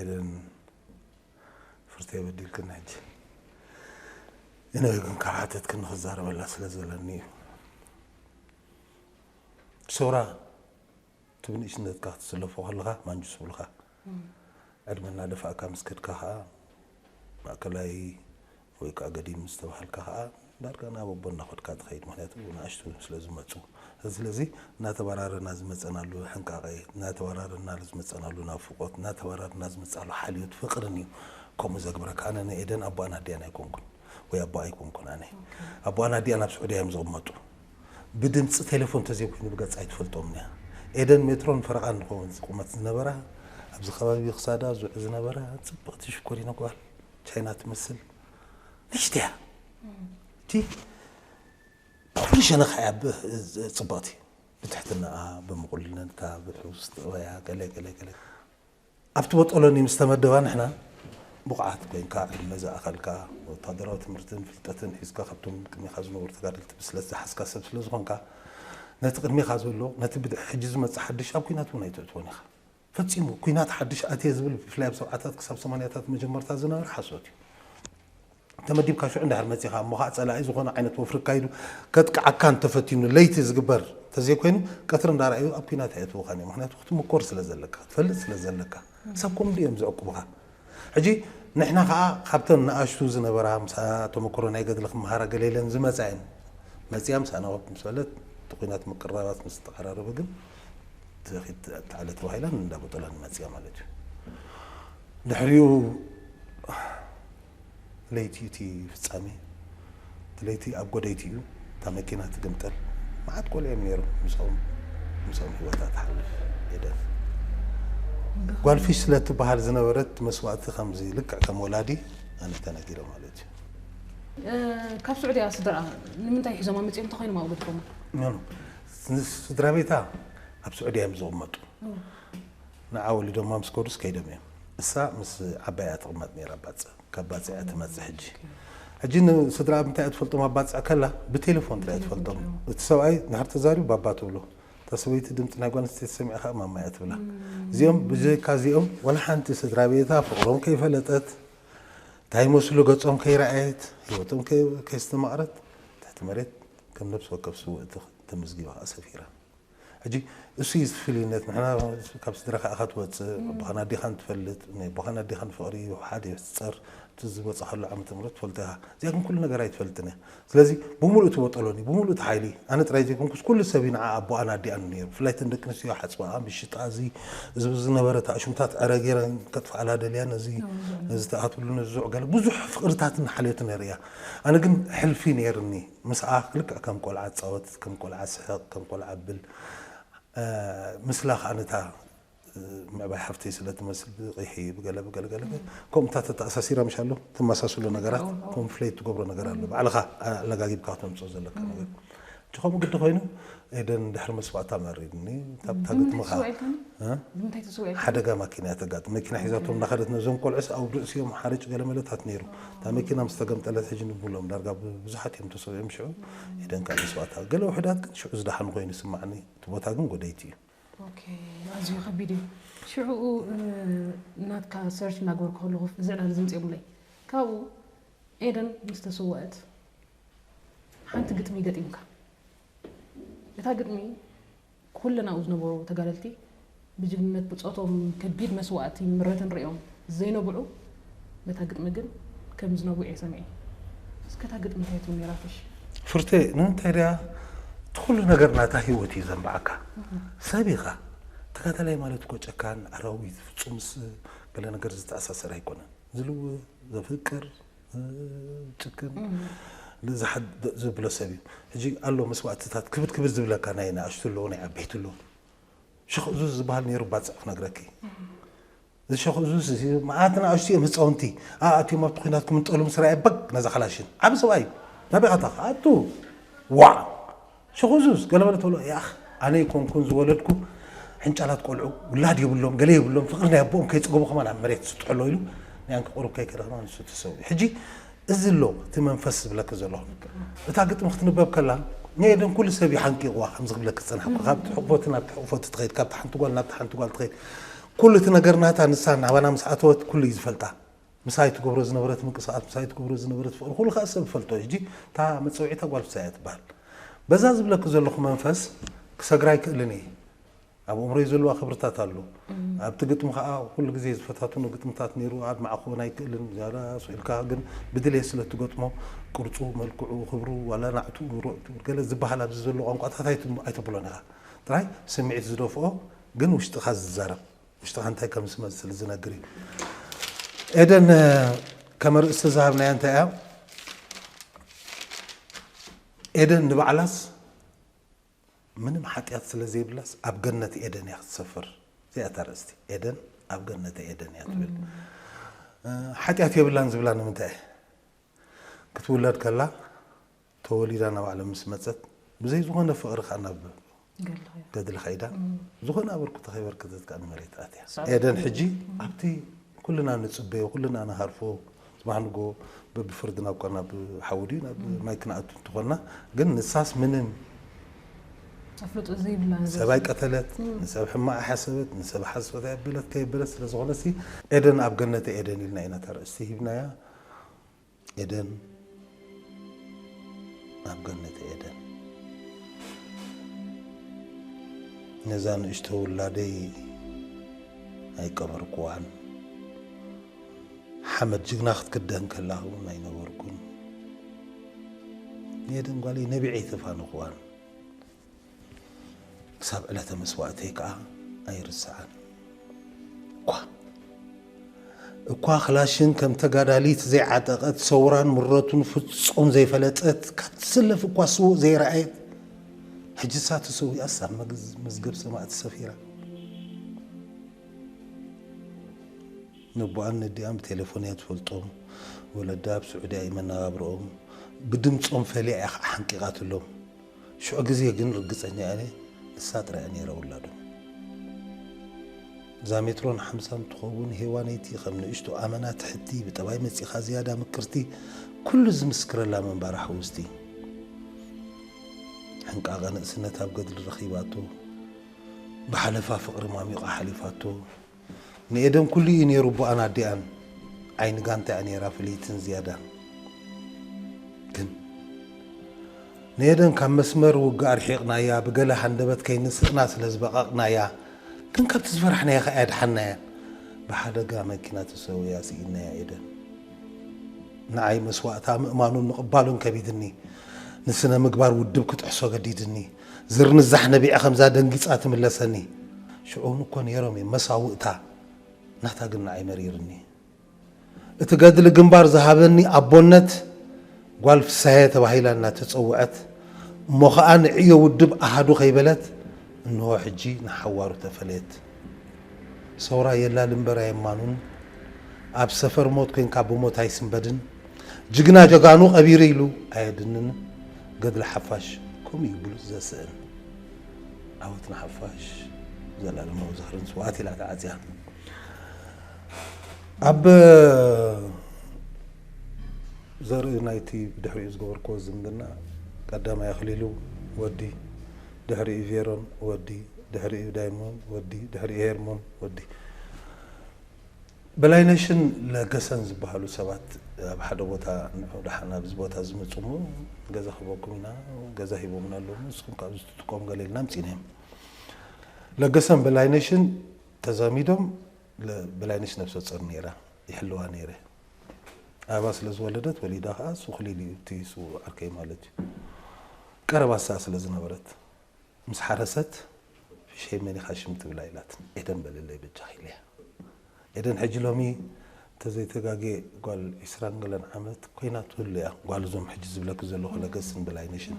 ኤደን ፍርተይ በዲልክኒ ሕጂ ግን ክሓተትክኒ ክዛረበላ ስለ ዘለኒ እዩ ሶራ እቲ ብንእሽነትካ ክትስለፎ ከለኻ ማንጁስ ይብልካ ዕድመ እናደፋእካ ምስ ከድካ ከዓ ማእከላይ ወይ ከኣ ገዲም ምስ ተባሃልካ ከኣ ዳርጋ ናብ ኣቦ እናኸድካ ትኸይድ ምኽንያቱ ንኣሽቱ ስለ ዝመጹ ስለዚ እናተባራረና ዝመጸናሉ ሕንቃቐ እናተባራረናሉ ዝመጸናሉ ናፍቆት እናተባራረና ዝመጻሉ ሓልዮት ፍቅርን እዩ ከምኡ ዘግብረካ ኣነ ንኤደን ኣቦኣን ኣዲኣን ኣይኮንኩን ወይ ኣቦኣ ኣይኮንኩን ኣነ ኣቦኣን ኣዲኣን ኣብ ስዑድያ እዮም ዝቕመጡ ብድምጺ ቴሌፎን ተዘይኮይኑ ብገጽ ኣይትፈልጦምን እያ ኤደን ሜትሮን ፈረቓን ንኸውን ቁመት ዝነበራ ኣብዚ ከባቢ ክሳዳ ዙዕ ዝነበራ ጽብቕቲ ሽኮሪና ጓል ቻይና ትመስል ንእሽተይ እያ እቲ ብኹሉ ሸነኻ እያ ብ- ዝ- ፅብቕቲ ብትሕትናኣ ብምቑልልነታ ብሕውስ ጥበያ ገለ ገለ ገለ ኣብቲ በጦሎኒ ምስ ተመደባ ንሕና ብቑዓት ኮይንካ ዕድመ ዝኣኸልካ ወታደራዊ ትምህርትን ፍልጠትን ሒዝካ ካብቶም ቅድሜኻ ዝነበሩ ተጋደልቲ ብስለት ዝሓዝካ ሰብ ስለ ዝኾንካ ነቲ ቅድሜኻ ዘሎ ነቲ ብድሕ ሕጂ ዝመፅእ ሓድሽ ኣብ ኩናት እውን ኣይተእትዎን ኢኻ ፈጺሙ ኩናት ሓድሽ ኣትየ ዝብል ብፍላይ ኣብ ሰብዓታት ክሳብ ሰማንያታት መጀመርታ ዝነበረ ሓሶት እዩ። ተመዲብካ ሽዑ እንድሕር መጺኻ እሞ ከኣ ጸላኢ ዝኾነ ዓይነት ወፍሪ ኣካይዱ ከጥቅዓካ እንተፈቲኑ ለይቲ ዝግበር እንተዘይኮይኑ ቀትሪ እንዳረኣዩ ኣብ ኩናት ኣየእትዉኻን እዮም። ምኽንያቱ ክትምኮር ስለዘለካ ክትፈልጥ ስለዘለካ ሰብ ከምኡ ድዮም ዝዕቁብኻ። ሕጂ ንሕና ከኣ ካብተን ንኣሽቱ ዝነበራ ምሳና ተመክሮ ናይ ገድሊ ክመሃራ ገለ ኢለን ዝመጻ እየን መጺኣ ምሳና ወግ ምስ በለት እቲ ኩናት ምቅርራባት ምስ ተቀራረበ ግን ትበኪት ትዓለ ተባሂላን እንዳበጦላን መጺኣ ማለት እዩ ድሕሪኡ ለይቲ እዩ እቲ ፍጻሜ ለይቲ ኣብ ጎደይቲ እዩ እታ መኪና ትግምጠል መዓት ቆልዑ እዮም ነይሮም ምስኦም ምስኦም ህይወታ ትሓልፍ ኤደን ጓል ፊሽ ስለ እትበሃል ዝነበረት መስዋእቲ ከምዚ ልክዕ ከም ወላዲ ኣነ ተነጊረ ማለት እዩ ካብ ስዑድያ ስድራኣ ንምንታይ ሒዞማ መፅኦም እንተኮይኖም ኣብኡ ገድፎማ ስድራ ቤታ ኣብ ስዑድያ እዮም ዝቕመጡ ንዓ ወሊዶማ ምስ ከዱስ ከይዶም እዮም እሳ ምስ ዓባይ እያ ትቅመጥ ነይራ ባጽዕ ካብ ባጽዕ እያ ትመጽእ ሕጂ ሕጂ ንስድራ ምንታይ እያ ትፈልጦም ኣብ ባጽዕ ከላ ብቴሌፎን ጥራይ ትፈልጦም እቲ ሰብኣይ ንድሕር ተዛሪቡ ባባ ትብሎ እታ ሰበይቲ ድምጺ ናይ ጓል ኣንስተይቲ ሰሚዓ ከኣ ማማ እያ ትብላ እዚኦም ብዘይካ እዚኦም ወላ ሓንቲ ስድራ ቤታ ፍቅሮም ከይፈለጠት እንታይ ይመስሉ ገጾም ከይረኣየት ህይወቶም ከየስተማቕረት ትሕቲ መሬት ከም ነብሲ ወከፍ ስውእቲ ተመዝጊባ ከኣ ሰፊራ ሕጂ እሱ እዩ እቲ ፍልዩነት ንሕና ካብ ስድራካ ኢካ ትወጽእ ኣቦካን ኣዴካን ትፈልጥ ናይ ኣቦካን ኣዴካን ፍቅሪ ሓደ እዩ ሕጸር እቲ ዝወጻካሉ ዓመተ ምህረት ትፈልጦ ኢካ እዚኣ ግን ኩሉ ነገር ኣይትፈልጥን እያ ስለዚ ብሙሉኡ ትወጠሎን እዩ ብሙሉኡ እቲ ሓይሊ ኣነ ጥራይ ዘይኮንኩስ ኩሉ ሰብ እዩ ንዓ ኣቦኣን ኣዲኣን ነይሩ ብፍላይ እተን ደቂ ኣንስትዮ ሓጽባኣ ምሽጣ እዚ እዚ ብዚ ዝነበረ እቲ ኣሽሙታት ዕረ ገይረን ከጥፍኣላ ደልያ ነዚ ነዚ ትኣትሉ ነዚ ዝዑጋለ ብዙሕ ፍቅርታትን ሓልዮትን ነርእያ ኣነ ግን ሕልፊ ነይርኒ ምስኣ ልክዕ ከም ቆልዓ ትጻወት ከም ቆልዓ ትስሕቕ ከም ቆልዓ ብል ምስላ ከኣ ነታ ምዕባይ ሓፍተይ ስለ ትመስል ብቂሒ ብገለ ብገለ ገለ ከምኡ እታ ተተኣሳሲራ ምሽ ኣሎ ትመሳስሎ ነገራት ኮንፍሌት ትገብሮ ነገር ኣሎ ባዕልኻ ኣለጋጊብካ ከተምጽኦ ዘለካ ነገር ከምኡ ግዲ ኮይኑ ኤደን ድሕሪ ምስዋእታ መሪርኒ ካብታ ግጥምኻ ሓደጋ ማኪና እያ ተጋጥም መኪና ሒዛቶም እንዳኸደት ነዞም ቆልዑስ ኣብ ርእሲኦም ሓርጭ ገለመለታት ነይሩ እታ መኪና ምስ ተገምጠለት ሕጂ ንብሎም ዳርጋ ብዙሓት እዮም ተሰዊኦም ሽዑ ኤደን ካብ ምስዋእታ ገለ ውሕዳት ግን ሽዑ ዝደሓኑ ኮይኑ ይስማዕኒ እቲ ቦታ ግን ጎደይቲ እዩ ኣዝዩ ከቢድ እዩ ሽዑኡ ናትካ ሰርች እናገበርኩ ከለኹ እዚ ዕላል እዚ ምፅኦምለይ ካብኡ ኤደን ምስ ተሰወአት ሓንቲ ግጥሚ ገጢምካ እታ ግጥሚ ኩለን ኣብኡ ዝነበሩ ተጋደልቲ ብጅግንነት ብጾቶም ከቢድ መስዋእቲ ምረትን ርእዮም ዘይነብዑ ነታ ግጥሚ ግን ከም ዝነብዑ እየ ሰሚዐ። እስከ እታ ግጥሚ እንታይ ትብል ነይራትሽ? ፍርቴ፣ ንምንታይ ድያ እቲ ኩሉ ነገር ናታ ህይወት እዩ ዘንብዓካ። ሰብ ኢኻ። ተጋዳላይ ማለት እኮ ጨካን፣ ኣራዊት፣ ፍጹምስ ገለ ነገር ዝተኣሳሰር ኣይኮነን። ዝልዊ፣ ዘፍቅር፣ ጭክን ንዝሓ- ዘብሎ ሰብ እዩ ሕጂ ኣሎ መስዋእትታት ክብድ ክብድ ዝብለካ ናይ ንኣሽቱ ኣለዉ ናይ ዓበይቲ ኣለዉ ሸኽ እዙዝ ዝበሃል ነይሩ ባፅዕ ክነግረኪ እዚ ሸኽ እዙዝ እዚ መዓት ንኣሽቱ እዮም ህፃውንቲ ኣኣትዮም ኣብቲ ኩናት ክምንጠሉ ምስ ረኣየ በግ ነዛ ካላሽን ዓብ ሰብኣይ እዩ ናበይ ካታ ኣቱ ዋዕ ሽኹዙዝ ገለ በለ ተብሎ ያኣኽ ኣነ ኣይኮንኩን ዝወለድኩ ሕንጫላት ቆልዑ ውላድ የብሎም ገለ የብሎም ፍቅሪ ናይ ኣቦኦም ከይጸገቡ ከማን ኣብ መሬት ዝስጥሑ ኣሎ ኢሉ ናይ ኣንኪ ቁሩብ ከይከደኽና ንሱ ተሰዊኡ ሕጂ እዚ ኣሎ እቲ መንፈስ ዝብለኪ ዘለኹ እታ ግጥሚ ክትንበብ ከላ ንኤደን ኩሉ ሰብ እዩ ሓንቂቕዋ ከምዚ ክብለኪ ዝጸናሕኩ ካብቲ ሕቕፎቲ ናብቲ ሕቕፎቲ ትኸይድ ካብቲ ሓንቲ ጓል ናብቲ ሓንቲ ጓል ትኸይድ ኩሉ እቲ ነገር ናታ ንሳ ናባና ምስ ኣተወት ኩሉ እዩ ዝፈልጣ ምሳይ ትገብሮ ዝነበረት ምንቅስቃስ ምሳይ ትገብሮ ዝነበረት ፍቅሪ ኩሉ ከኣ ሰብ ይፈልጦ እዩ ሕጂ እታ መጸውዒታ ጓል ፍሳይ እያ ትበሃል በዛ ዝብለኪ ዘለኹ መንፈስ ክሰግራ ኣይክእልን እየ ኣብ እምሮይ ዘለዋ ክብርታት ኣሎ ኣብቲ ግጥሚ ከዓ ኩሉ ግዜ ዝፈታትኖ ግጥምታት ነይሩ ኣድማዕ ክኾን ኣይክእልን ዛላ ስኢልካ ግን ብድሌት ስለ እትገጥሞ ቅርፁ መልክዑ ክብሩ ዋላ ናዕቱ ገለ ዝበሃል ኣብዚ ዘሎ ቋንቋታት ኣይተብሎን ኢኻ ጥራይ ስምዒት ዝደፍኦ ግን ውሽጥኻ ዝዛረብ ውሽጥኻ እንታይ ከም ዝመስል ዝነግር እዩ። ኤደን ከም ኣርእስቲ ዝሃብናያ እንታይ እያ? ኤደን ንባዕላስ ምንም ሓጢኣት ስለ ዘይብላስ ኣብ ገነት ኤደን እያ ክትሰፍር። እዚኣ እታ ኣርእስቲ ኤደን ኣብ ገነተ ኤደን እያ ትብል። እ፣ ሓጢኣት የብላን ዝብላ ንምንታይ እየ? ክትውለድ ከላ ተወሊዳ ናብ ዓለም ምስ መጸት ብዘይ ዝኾነ ፍቕሪ ከኣ ናብ ገድሊ ከይዳ ዝኾነ ኣበርክቶ ከይበርከተት ከኣ ንመሬት ኣትያ። ኤደን ሕጂ ኣብቲ ኩልና ንጽበዮ ኩልና ንሃርፎ ጽባሕ ንግሆ በብፍርድና እኳ ናብ ሓዊ ድዩ ናብ ማይ ክንኣቱ እንተኾንና ግን ንሳስ ምንም ኣፍልጦ ዘይብላ ንዘብ ሰብ ኣይቀተለት ንሰብ ሕማቕ ኣይሓሰበት ንሰብ ሓሶት ኣየበለት ከየበለት ስለ ዝኾነሲ ኤደን ኣብ ገነተ ኤደን ኢልና ኢና እታ ኣርእስቲ ሂብናያ። ኤደን ኣብ ገነተ ኤደን ነዛ ንእሽቶ ውላደይ ኣይቀበርኩዋን። ሓመድ ጅግና ክትክደን ከላ እውን ኣይነበርኩን። ንኤደን ጓለይ ነቢዐይ ተፋንኹዋን። ክሳብ ዕለተ መስዋእተይ ከዓ ኣይርሰዓን። እኳ እኳ ክላሽን ከም ተጋዳሊት ዘይዓጠቐት ሰውራን ምረቱን ፍጹም ዘይፈለጠት ካብ ትስለፍ እኳ ስውእ ዘይረኣየት ሕጅሳ ተሰዊኣስ ኣብ መዝገብ ሰማእቲ ሰፊራ ነቦኣን ነዲኣን ብቴሌፎን እያ ትፈልጦም ወለዳ ኣብ ስዑድያ እዩ መነባብረኦም ብድምፆም ፈሊያ እያ ከዓ ሓንቂቓትሎም ሽዑ ግዜ ግን ርግጸኛ እየ ኣነ ንሳ ጥራይ እያ ነይራ ውላዶም። እዛ ሜትሮን ሓምሳን ትኸውን ሄዋነይቲ ከም ንእሽቶ ኣመና ትሕቲ፣ ብጠባይ መጺኻ ዝያዳ ምቅርቲ፣ ኩሉ ዝምስክረላ ምንባራ ሕውስቲ። ሕንቃቐ ንእስነት ኣብ ገድሊ ረኺባቶ፣ ብሓለፋ ፍቕሪ ማሚቓ ሓሊፋቶ። ንኤደን ኩሉ እዩ ኔሩ ኣቦኣን ኣዲኣን ዓይኒ ጋንታ እያ ኔራ ፍልይትን ዝያዳን ግን ንኤደን ካብ መስመር ውግእ ኣርሒቕናያ ብገለ ሃንደበት ከይንስእና ስለ ዝበቐቕናያ ግን ካብቲ ዝፈራሕናያ ከኣ ኣድሓናያ ብሓደጋ መኪና ተሰውያ ስኢናያ ኤደን ንዓይ መስዋእታ ምእማኑን ምቕባሉን ከቢድኒ ንስነ ምግባር ውድብ ክጥሕሶ ገዲድኒ ዝርንዛሕ ነቢዐ ከምዛ ደንጊጻ ትምለሰኒ ሽዑውን እኮ ነይሮም እዮም መሳውእታ ናታ ግን ንዓይ መሪርኒ እቲ ገድሊ ግንባር ዝሃበኒ ኣቦነት ጓል ፍሳሄ ተባሂላ እናተጸውዐት እሞ ኸኣ ንዕዮ ውድብ ኣሃዱ ከይበለት እንሆ ሕጂ ንሓዋሩ ተፈለየት ሰውራ የላል እምበር ኣየማኑን ኣብ ሰፈር ሞት ኮንካ ብሞት ኣይስንበድን ጅግና ጀጋኑ ቀቢሩ ኢሉ ኣየድንን ገድሊ ሓፋሽ ከምኡ እዩ ብሉጽ ዘስእን ዓወት ንሓፋሽ ዘላለማዊ ዝኽርን ስውኣት ኢላ ተዓጽያ ኣብ ዘርኢ ናይቲ ብድሕሪኡ ዝገበርክዎ ዝምድና ቀዳማይ ኣኽሊሉ ወዲ ድሕሪኡ ቬሮን ወዲ ድሕሪኡ ዳይሞን ወዲ ድሕሪኡ ሄርሞን ወዲ በላይነሽን ለገሰን ዝበሃሉ ሰባት ኣብ ሓደ ቦታ እንሆ ደሓን ኣብዚ ቦታ እዚ ምፁ እሞ ገዛ ክህበኩም ኢና ገዛ ሂቦምና ኣለዉ እሞ ንስኹም ከ ኣብዚ ትጥቀሙ ገለ ኢልና ኣምፂእና እዮም። ለገሰን በላይነሽን ተዛሚዶም በላይነሽ ነብሰፆር ነይራ ይሕልዋ ነይረ ኣበባ ስለ ዝወለደት ወሊዳ ከዓ ሱክሊል እዩ እቲ ስውእ ዓርከይ ማለት እዩ ቀረባ ስኣ ስለ ዝነበረት ምስ ሓረሰት ፍሸይ መን ኢኻ ሽም ትብላ ኢላትኒ ኤደን በልለይ በጃኺ ኢለያ ኤደን ሕጂ ሎሚ እንተዘይተጋግየ ጓል ዕስራን ገለን ዓመት ኮይና ትህሉ እያ ጓል እዞም ሕጂ ዝብለኪ ዘለኹ ለገስን በላይነሽን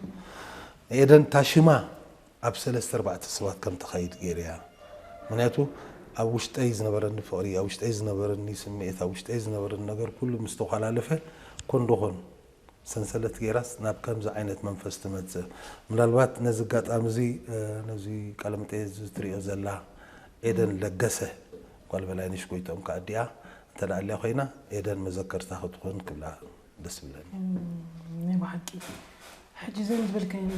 ንኤደን እታ ሽማ ኣብ ሰለስተ ኣርባዕተ ሰባት ከም ተኻይድ ገይረያ ምክንያቱ ኣብ ውሽጠይ ዝነበረኒ ፍቕሪ ኣብ ውሽጠይ ዝነበረኒ ስምዒት ኣብ ውሽጠይ ዝነበረኒ ነገር ኩሉ ምስ ተኳላለፈ ኮንዶኾን ሰንሰለት ገይራስ ናብ ከምዚ ዓይነት መንፈስ ትመጽእ። ምናልባት ነዚ ኣጋጣሚ እዚ ነዚ ቃለ መጠየት እዚ ትርእዮ ዘላ ኤደን ለገሰ ጓል በላይነሽ ጎይትኦም ከኣ ኣዲኣ እንተ ኣልያ ኮይና ኤደን መዘከርታ ክትኾን ክብላ ደስ ይብለኒ። ናይ ብሓቂ ሕጂ ዘን ዝበልካየን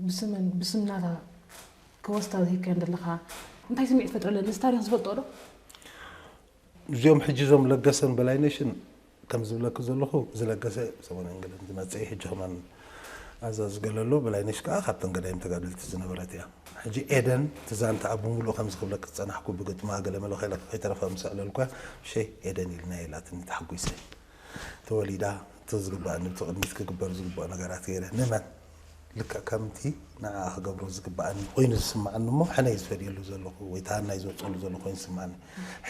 ብስመን ብስም ናታ ከወስታ ዝሂብካየን ዘለኻ እንታይ ስምዒት ይፈጥረለን? ነዚ ታሪኽ ዝፈልጥኦ ዶ? እዚኦም ሕጂ እዞም ለገሰን በላይነሽን ከም ዝብለኪ ዘለኹ እዚ ለገሰ ሰሙን እንግሊዝ ዝመጸ እዩ ሕጂ ከማን ኣዛዚ ገለሎ በላይነሽ ከኣ ካብተን ገዳይም ተጋደልቲ ዝነበረት እያ ሕጂ ኤደን እቲ ዛንታኣ ብምሉኡ ከምዚ ክብለኪ ዝጸናሕኩ ብግጥማ ገለ መለ ከይለኪ ከይተረፈ ምስ ኣዕለልኩያ ሸይ ኤደን ኢልና ኢላትኒ ተሓጒሰ ተወሊዳ እቲ ዝግባኣኒ እቲ ቅድሚት ክግበር ዝግብኦ ነገራት ገይረ ንመን ልክዕ ከምቲ ንዓኣ ክገብሮ ዝግብኣኒ ኮይኑ ዝስምዓኒ እሞ ሕነይ ዝፈድየሉ ዘለኹ ወይ ተሃናይ ዘውፀሉ ዘለኹ ኮይኑ ዝስምዓኒ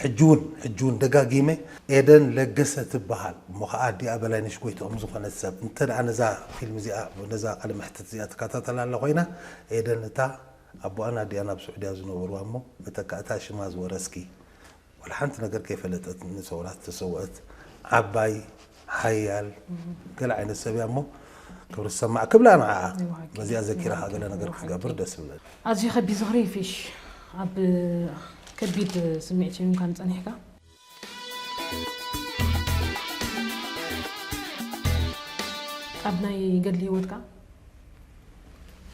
ሕጂ እውን ሕጂ እውን ደጋጊመ ኤደን ለገሰ ትበሃል እሞ ከዓ ኣዲኣ በላይነሽ ጎይትኦም ዝኾነት ሰብ እንተ ነዛ ፊልም እዚኣ ነዛ ቃለ መሕትት እዚኣ ትከታተላላ ኮይና ኤደን እታ ኣቦኣን ኣዲኣን ኣብ ስዑድያ ዝነበርዋ እሞ መተካእታ ሽማ ዝወረስኪ ዋላ ሓንቲ ነገር ከይፈለጠት ንሰውራ ዝተሰውአት ዓባይ ሓያል ገለ ዓይነት ሰብ እያ እሞ ክብሪ ዝሰማዕ ክብላ ንዓኣ በዚኣ ዘኪራ ከዓ ገለ ነገር ክትገብር ደስ ይብለኒ ኣዝዩ ከቢድ ዝኽሪ እዩ ፊሽ ኣብ ከቢድ ስምዒት እዩ እንኳን ጸኒሕካ ኣብ ናይ ገድሊ ህይወትካ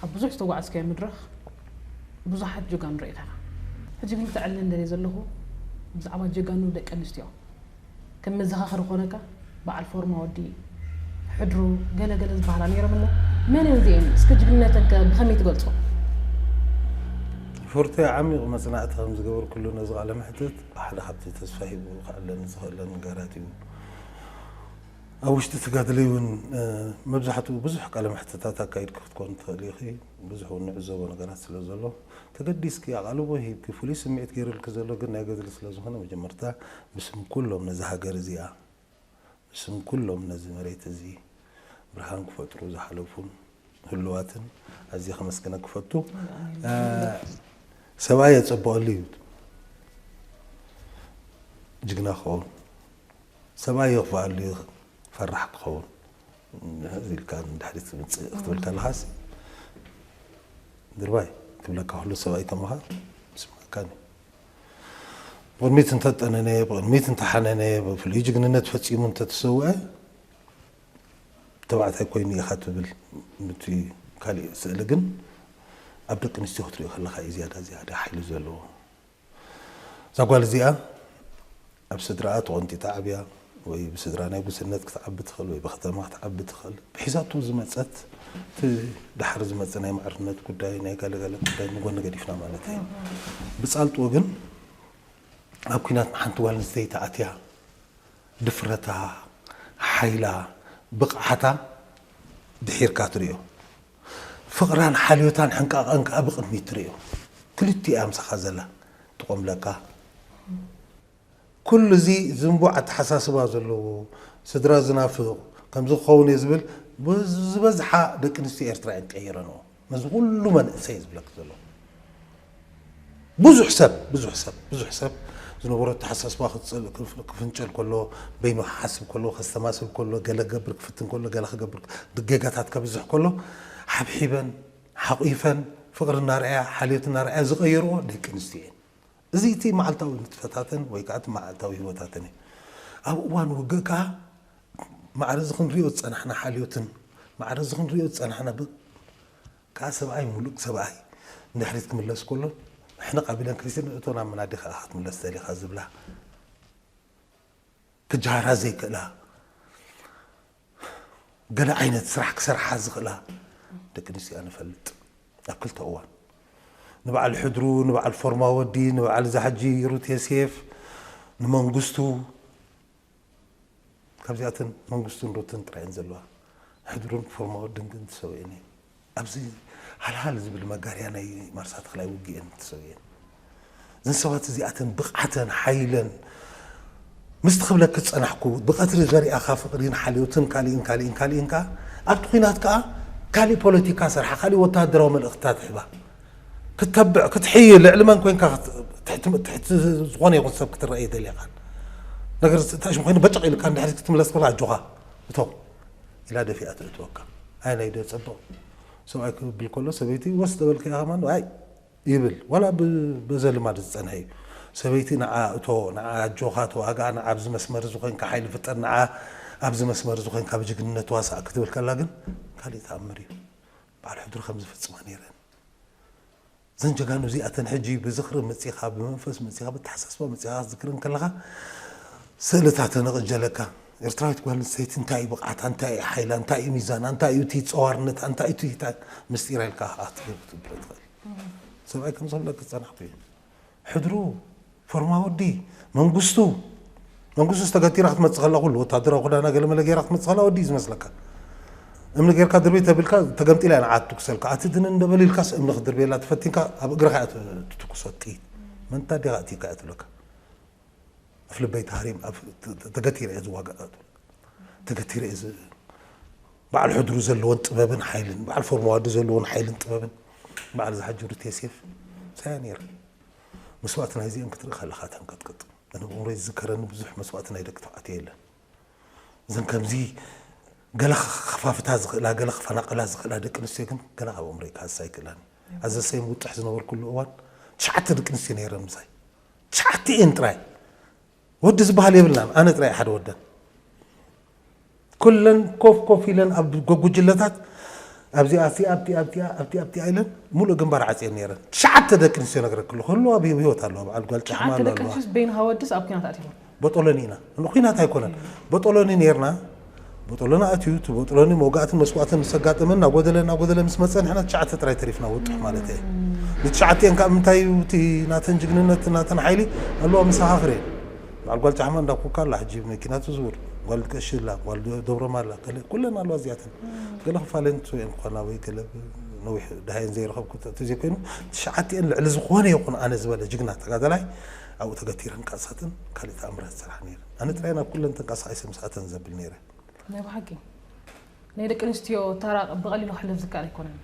ኣብ ብዙሕ ዝተጓዓዝካዮ መድረኽ ብዙሓት ጀጋኑ ርኢኻ ኢኻ። ሕጂ ግን ክተዕልለኒ ዝደልዮ ዘለኹ ብዛዕባ ጀጋኑ ደቂ ኣንስትዮ ከም መዘኻኸሪ ክኾነካ በዓል ፎርማ ወዲ ሕድሩ ገለ ገለ ዝበሃላ ነይረን እሞ መን እየን እዚኤን? እስከ ጅግንነተን ከ ብኸመይ ትገልጾ? ፎርቴ ዓሚቕ መጽናዕቲ ከም ዝገበርኩሉ ነዚ ቃለ መሕትት ሓደ ካብቲ ተስፋ ሂቡ ክዕለኒ ዝኽእለ ነገራት እዩ። ኣብ ውሽጢ እቲ ገድሊ እውን መብዛሕትኡ ብዙሕ ቃለ መሕትታት ኣካይድኪ ክትኮኒ ትኽእሊ ኢኺ። ብዙሕ እውን ንዕዘቦ ነገራት ስለ ዘሎ ተገዲስኪ ኣቓልቦ ሂብኪ ፍሉይ ስምዒት ገይሩልኪ ዘሎ ግን ናይ ገድሊ ስለ ዝኾነ መጀመርታ ብስም ኩሎም ነዛ ሃገር እዚኣ ብስም ኩሎም ነዚ መሬት እዚ ብርሃን ክፈጥሩ ዝሓለፉን ህሉዋትን ኣዝየ ከመስግነኪ እፈቱ። ሰብኣይ የጸብቐሉ እዩ ጅግና ክኸውን። ሰማይ የኽፍኣሉ እዩ ፈራሕ ክኸውን ሕዝ ኢልካ ንድሕሪት ዝምፅእ ክትብል ከለኻስ ድርባይ ክብለካ ኩሉ ሰብ ኣይተምሃር ይስምዓካን እዩ ብቕድሚት እንተጠነነ ብቕድሚት እንተሓነነ ብፍሉይ ጅግንነት ፈፂሙ እንተተሰውዐ ተባዕታይ ኮይኑ ኢኻ ትብል እቲ ካሊእ ስእሊ ግን ኣብ ደቂ ኣንስትዮ ክትሪኦ ከለካ እዩ ዝያዳ ዝያዳ ሓይሊ ዘለዎ እዛ ጓል እዚኣ ኣብ ስድራኣ ተቖንጢጣ ዓብያ ወይ ብስድራ ናይ ጉስነት ክትዓቢ ትኽእል ወይ ብከተማ ክትዓቢ ትኽእል ብሒዛቶ ዝመፀት እቲ ዳሓር ዝመፀ ናይ ማዕርነት ጉዳይ ናይ ጋለጋለ ጉዳይ ንጎኒ ገዲፍና ማለት እዩ ብፃልጡ ግን ኣብ ኩናት ንሓንቲ ጓል ኣንስተይቲ ኣትያ ድፍረታ ሓይላ ብቕዓታ ድሒርካ ትሪኦ ፍቕራን ሓልዮታን ሕንቃቐን ከኣ ብቕድሚት ትርእዮ። ክልቲኡ እያ ምሳኻ ዘላ፣ ትቖምለካ። ኩሉ እዚ ዝንቡዕ ኣተሓሳስባ ዘለዎ፣ ስድራ ዝናፍቕ፣ ከምዚ ክኸውን እየ ዝብል ዝበዝሓ ደቂ ኣንስትዮ ኤርትራ እየን ቀይረንኦ። ነዚ ኩሉ መንእሰይ ዝብለኪ ዘለኹ። ብዙሕ ሰብ ብዙሕ ሰብ ብዙሕ ሰብ ዝነበሮ ኣተሓሳስባ ክፍንጨል ከሎ፣ በይኑ ክሓስብ ከሎ፣ ከስተማስል ከሎ፣ ገለ ክገብር ክፍትን ከሎ፣ ገለ ክገብር ጌጋታት ከብዝሕ ከሎ፣ ሓብሒበን ሓቚፈን ፍቕሪ እናርኣያ ሓልዮት እናርኣያ ዝቐየርኦ ደቂ ኣንስትዮ እየን። እዚ እቲ መዓልታዊ ንጥፈታተን ወይ ከኣ እቲ መዓልታዊ ህይወታተን እዩ። ኣብ እዋን ውግእ ከኣ ማዕረዚ ክንሪኦ ዝጸናሕና ሓልዮትን ማዕረዚ ክንሪኦ ዝጸናሕና ከኣ ሰብኣይ ምሉእ ሰብኣይ ንድሕሪት ክምለስ ከሎ ሕንቕ ኣቢለን ክሪስቲን እቶ ናብ መናዲ ከኣ ክትምለስ ደሊኻ ዝብላ ክጀሃራ ዘይክእላ ገለ ዓይነት ስራሕ ክሰርሓ ዝኽእላ ደቂ ኣንስትዮ እያ ንፈልጥ ኣብ ክልተ እዋን ንበዓል ሕድሩ ንበዓል ፎርማ ወዲ ንበዓል ዛሕጂ ሩት የሴፍ ንመንግስቱ ካብዚኣተን መንግስቱን ሩትን ጥራይ እየን ዘለዋ። ሕድሩን ፎርማዊ ድንግን ተሰዊኤን እየን። ኣብዚ ሃልሃል ዝብል መጋርያ ናይ ማርሳ ተኽላይ ውግእየን ተሰዊኤን። እዘን ሰባት እዚኣተን ብቕዓተን፣ ሓይለን፣ ምስቲ ክብለኪ ዝጸናሕኩ ብቐትሪ ዘሪኣኻ ፍቕሪን ሓልዮትን ካልእን ካልእን ካልእን ከኣ ኣብቲ ኩናት ከኣ ካልእ ፖለቲካ ሰርሓ፣ ካልእ ወተሃደራዊ መልእኽትታት ሂባ። ክትተብዕ ክትሕይል ልዕሊ መን ኮንካ ትሕቲ ትሕቲ ዝኾነ ይኹን ሰብ ክትረኣ ኣይደልኻን ነገር ዝተኣሽሙ ኮይኑ በጨቕ ኢልካ ንድሕሪት ክትምለስ ከሎ ኣጆኻ እቶ ኢላ ደፊኣ ተእትወካ ኣየናይ ዶ የጸብቕ ሰብኣይ ክብል ከሎ ሰበይቲ ወስ ተበልካ ኢኻ ማን ኣይ ይብል ዋላ በዘ ልማድ ዝጸንሐ እዩ ሰበይቲ ንዓ እቶ ንዓ ኣጆኻ ተዋጋእ ንዓ ኣብዚ መስመር እዚ ኮንካ ሓይሊ ፍጠር ንዓ ኣብዚ መስመር እዚ ኮንካ ብጅግንነት ዋሳእ ክትብል ከላ ግን ካልእ ተኣምር እዩ በዓል ሕድሪ ከም ዝፍጽማ ነይረን። እዘን ጀጋኑ እዚኣተን ሕጂ ብዝኽሪ መጺኻ፣ ብመንፈስ መጺኻ፣ ብኣተሓሳስባ መጺኻ ክትዝክረን ከለኻ ስእልታተን እቕጀለካ። ኤርትራዊት ጓል ኣንስተይቲ እንታይ እዩ ብቕዓታ፣ እንታይ እዩ ሓይላ፣ እንታይ እዩ ሚዛና፣ እንታይ እዩ እቲ ጸዋርነታ፣ እንታይ እዩ ትሂታ ምስጢራ ኢልካ ክትገብር ትብል ትኽእል። ሰብኣይ ከም ዘሎኪ ዝጸናሕኩ እየ። ሕድሩ፣ ፎርማ ወዲ፣ መንግስቱ፣ መንግስቱስ ተገቲራ ክትመጽእ ከላ ኩሉ ወተሃደራዊ ክዳና ገለ መለ ጌራ ክትመጽእ ከላ ወዲ እዩ ዝመስለካ። እምኒ ጌርካ ድርብይ ተቢልካ ተገምጢላ እያ ንዓ ትትኩሰልካ። ኣቲ ድንን እንደ በል ኢልካስ እምኒ ክትድርብየላ ተፈቲንካ ኣብ እግርኻ እያ ትትኩሶ ጥይት። መንታ ዲኻ ኣእቲካ እያ ትብለካ። ኣፍ ልበይ ተሃሪም ተገቲረ እየ ዝዋጋእ እያ ትብለካ። ተገቲረ እየ በዓል ሕድሩ ዘለወን ጥበብን ሓይልን፣ በዓል ፎርማዋዲ ዘለወን ሓይልን ጥበብን፣ በዓል ዝሓጀሩት የሴፍ ሳያ ነይረን። መስዋእቲ ናይዚኤን ክትርኢ ከለኻ ተንቀጥቅጥ። ኣነ ኣብ ኣእምሮይ ዝዝከረኒ ብዙሕ መስዋእቲ ናይ ደቂ ተባዕትዮ የለን። እዘን ከምዚ ገለ ክኸፋፍታ ዝኽእላ፣ ገለ ክፈናቕላ ዝኽእላ ደቂ ኣንስትዮ ግን ገና ካብ ኣእምሮይ ክሃስስ ኣይክእላን እዩ። ኣብ ዘሰይም ውጥሕ ዝነበርኩሉ እዋን ትሽዓተ ደቂ ኣንስትዮ ነይረን ምሳይ። ትሽዓቲኤን ጥራይ! ወዲ ዝበሃል የብልናን ኣነ ጥራይ እየ ሓደ ወደን ኩለን ኮፍ ኮፍ ኢለን ኣብ ጎጉጅለታት ኣብዚኣ ኣብቲኣ ኣብቲኣ ኣብቲኣ ኣብቲኣ ኢለን ሙሉእ ግንባር ዓፅየን ነይረን ትሽዓተ ደቂ ኣንስትዮ ነግረክ ኣለኹ ኣለዋ ኣብ ህይወት ኣለዋ በዓል ጓል ጫማ ትሽዓተ ኣለዋ ደቂ ኣለዋ ኣንስትዮስ በይንኻ ወድስ ኣብ ኩናት ኣትዮም ቦጦሎኒ ኢና ንኩናት ኣይኮነን ቦጦሎኒ ነይርና ቦጦሎኒ ኣትዩ እቲ ቦጥሎኒ መውጋእትን መስዋእትን ምስ ኣጋጠመን እናጎደለ እናጎደለ ምስ መጸ ንሕና ትሽዓተ ጥራይ ተሪፍና ውጡሕ ማለተይ እየ ንትሽዓቲኤን ከኣ ምንታይ እዩ እቲ ናተን ጅግንነት ናተን ሓይሊ ኣሉ ኣብ መሰኻኽር እየን በዓል ጓል ጫሕማ እንዳ ኩካ ኣላ ሕጂ ብመኪና ትዝውር ጓል ቀሺ ኣላ ጓል ደብሮማ ኣላ ገለ ኩለን ኣለዋ እዚኣተን ገለ ክፋለን ትሰውኤን ክኾና ወይ ገለ ነዊሕ ድሃየን ዘይረኸብኩ ተዘይኮይኑ ትሽዓቲኤን ልዕሊ ዝኾነ ይኹን ኣነ ዝበለ ጅግና ተጋዳላይ ኣብኡ ተገቲረን ቃልሳትን ካልእ ተኣምራት ዝሰርሓን እየን ኣነ ጥራይ ናብ ኩለን ተንቀሳቒሰ ምስኣተን ዘብል ነይረ። ናይ ብሓቂ ናይ ደቂ ኣንስትዮ ታራ ብቐሊሉ ክሕለፍ ዝከኣል ኣይኮነን።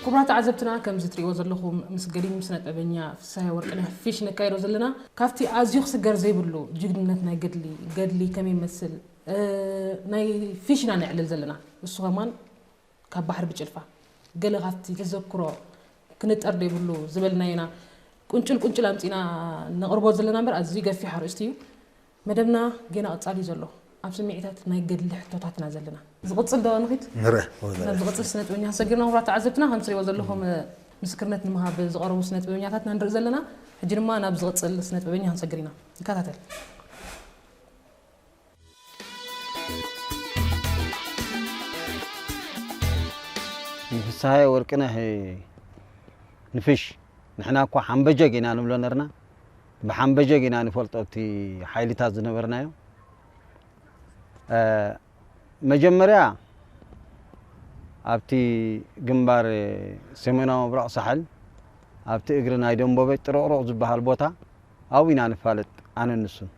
ክቡራት ተዓዘብትና ከምዚ ትሪእዎ ዘለኹም ምስ ገዲም ስነጥበበኛ ፍስሃየ ወርቅነህ ፊሽ ነካይዶ ዘለና ካብቲ ኣዝዩ ክስገር ዘይብሉ ጅግንነት ናይ ገድሊ ገድሊ ከመይ ይመስል ናይ ፊሽ ኢና ነዕልል ዘለና እሱ ከማን ካብ ባሕሪ ብጭልፋ ገለ ካብቲ ተዘክሮ ክንጠር ዶ ይብሉ ዝበልናዮ ኢና ቁንጭል ቁንጭል ኣምጺእና ነቕርቦ ዘለና እምበር ኣዝዩ ገፊሕ ኣርእስቲ እዩ። መደብና ጌና ቀጻሊ እዩ ዘሎ ኣብ ስምዒታት ናይ ገድሊ ሕቶታት ኢና ዘለና። ዝቕጽል ዶ ንኺድ? ናብ ዝቕጽል ስነጥበበኛታት ሰጊርና ክቡራት ተዓዘብትና ከምቲ ትርእይዎ ዘለኹም ምስክርነት ንምሃብ ዝቐረቡ ስነጥበበኛታት ኢና ንርኢ ዘለና። ሕጂ ድማ ናብ ዝቕጽል ስነጥበበኛ ክንሰግር ኢና። ንከታተል። ንፍስሃየ ወርቅነህ ንፍሽ ንሕና እኳ ሓምበጀግ ኢና ንብሎ ነርና ብሓምበጀግ ኢና ንፈልጦ እቲ ሓይልታት ዝነበርናዮ መጀመርያ ኣብቲ ግንባር ሰሜናዊ ምብራቕ ሳሕል ኣብቲ እግሪ ናይ ደንቦበ ጥርቕሩቕ ዝበሃል ቦታ ኣብኡ ኢና ንፋለጥ ኣነ ንሱን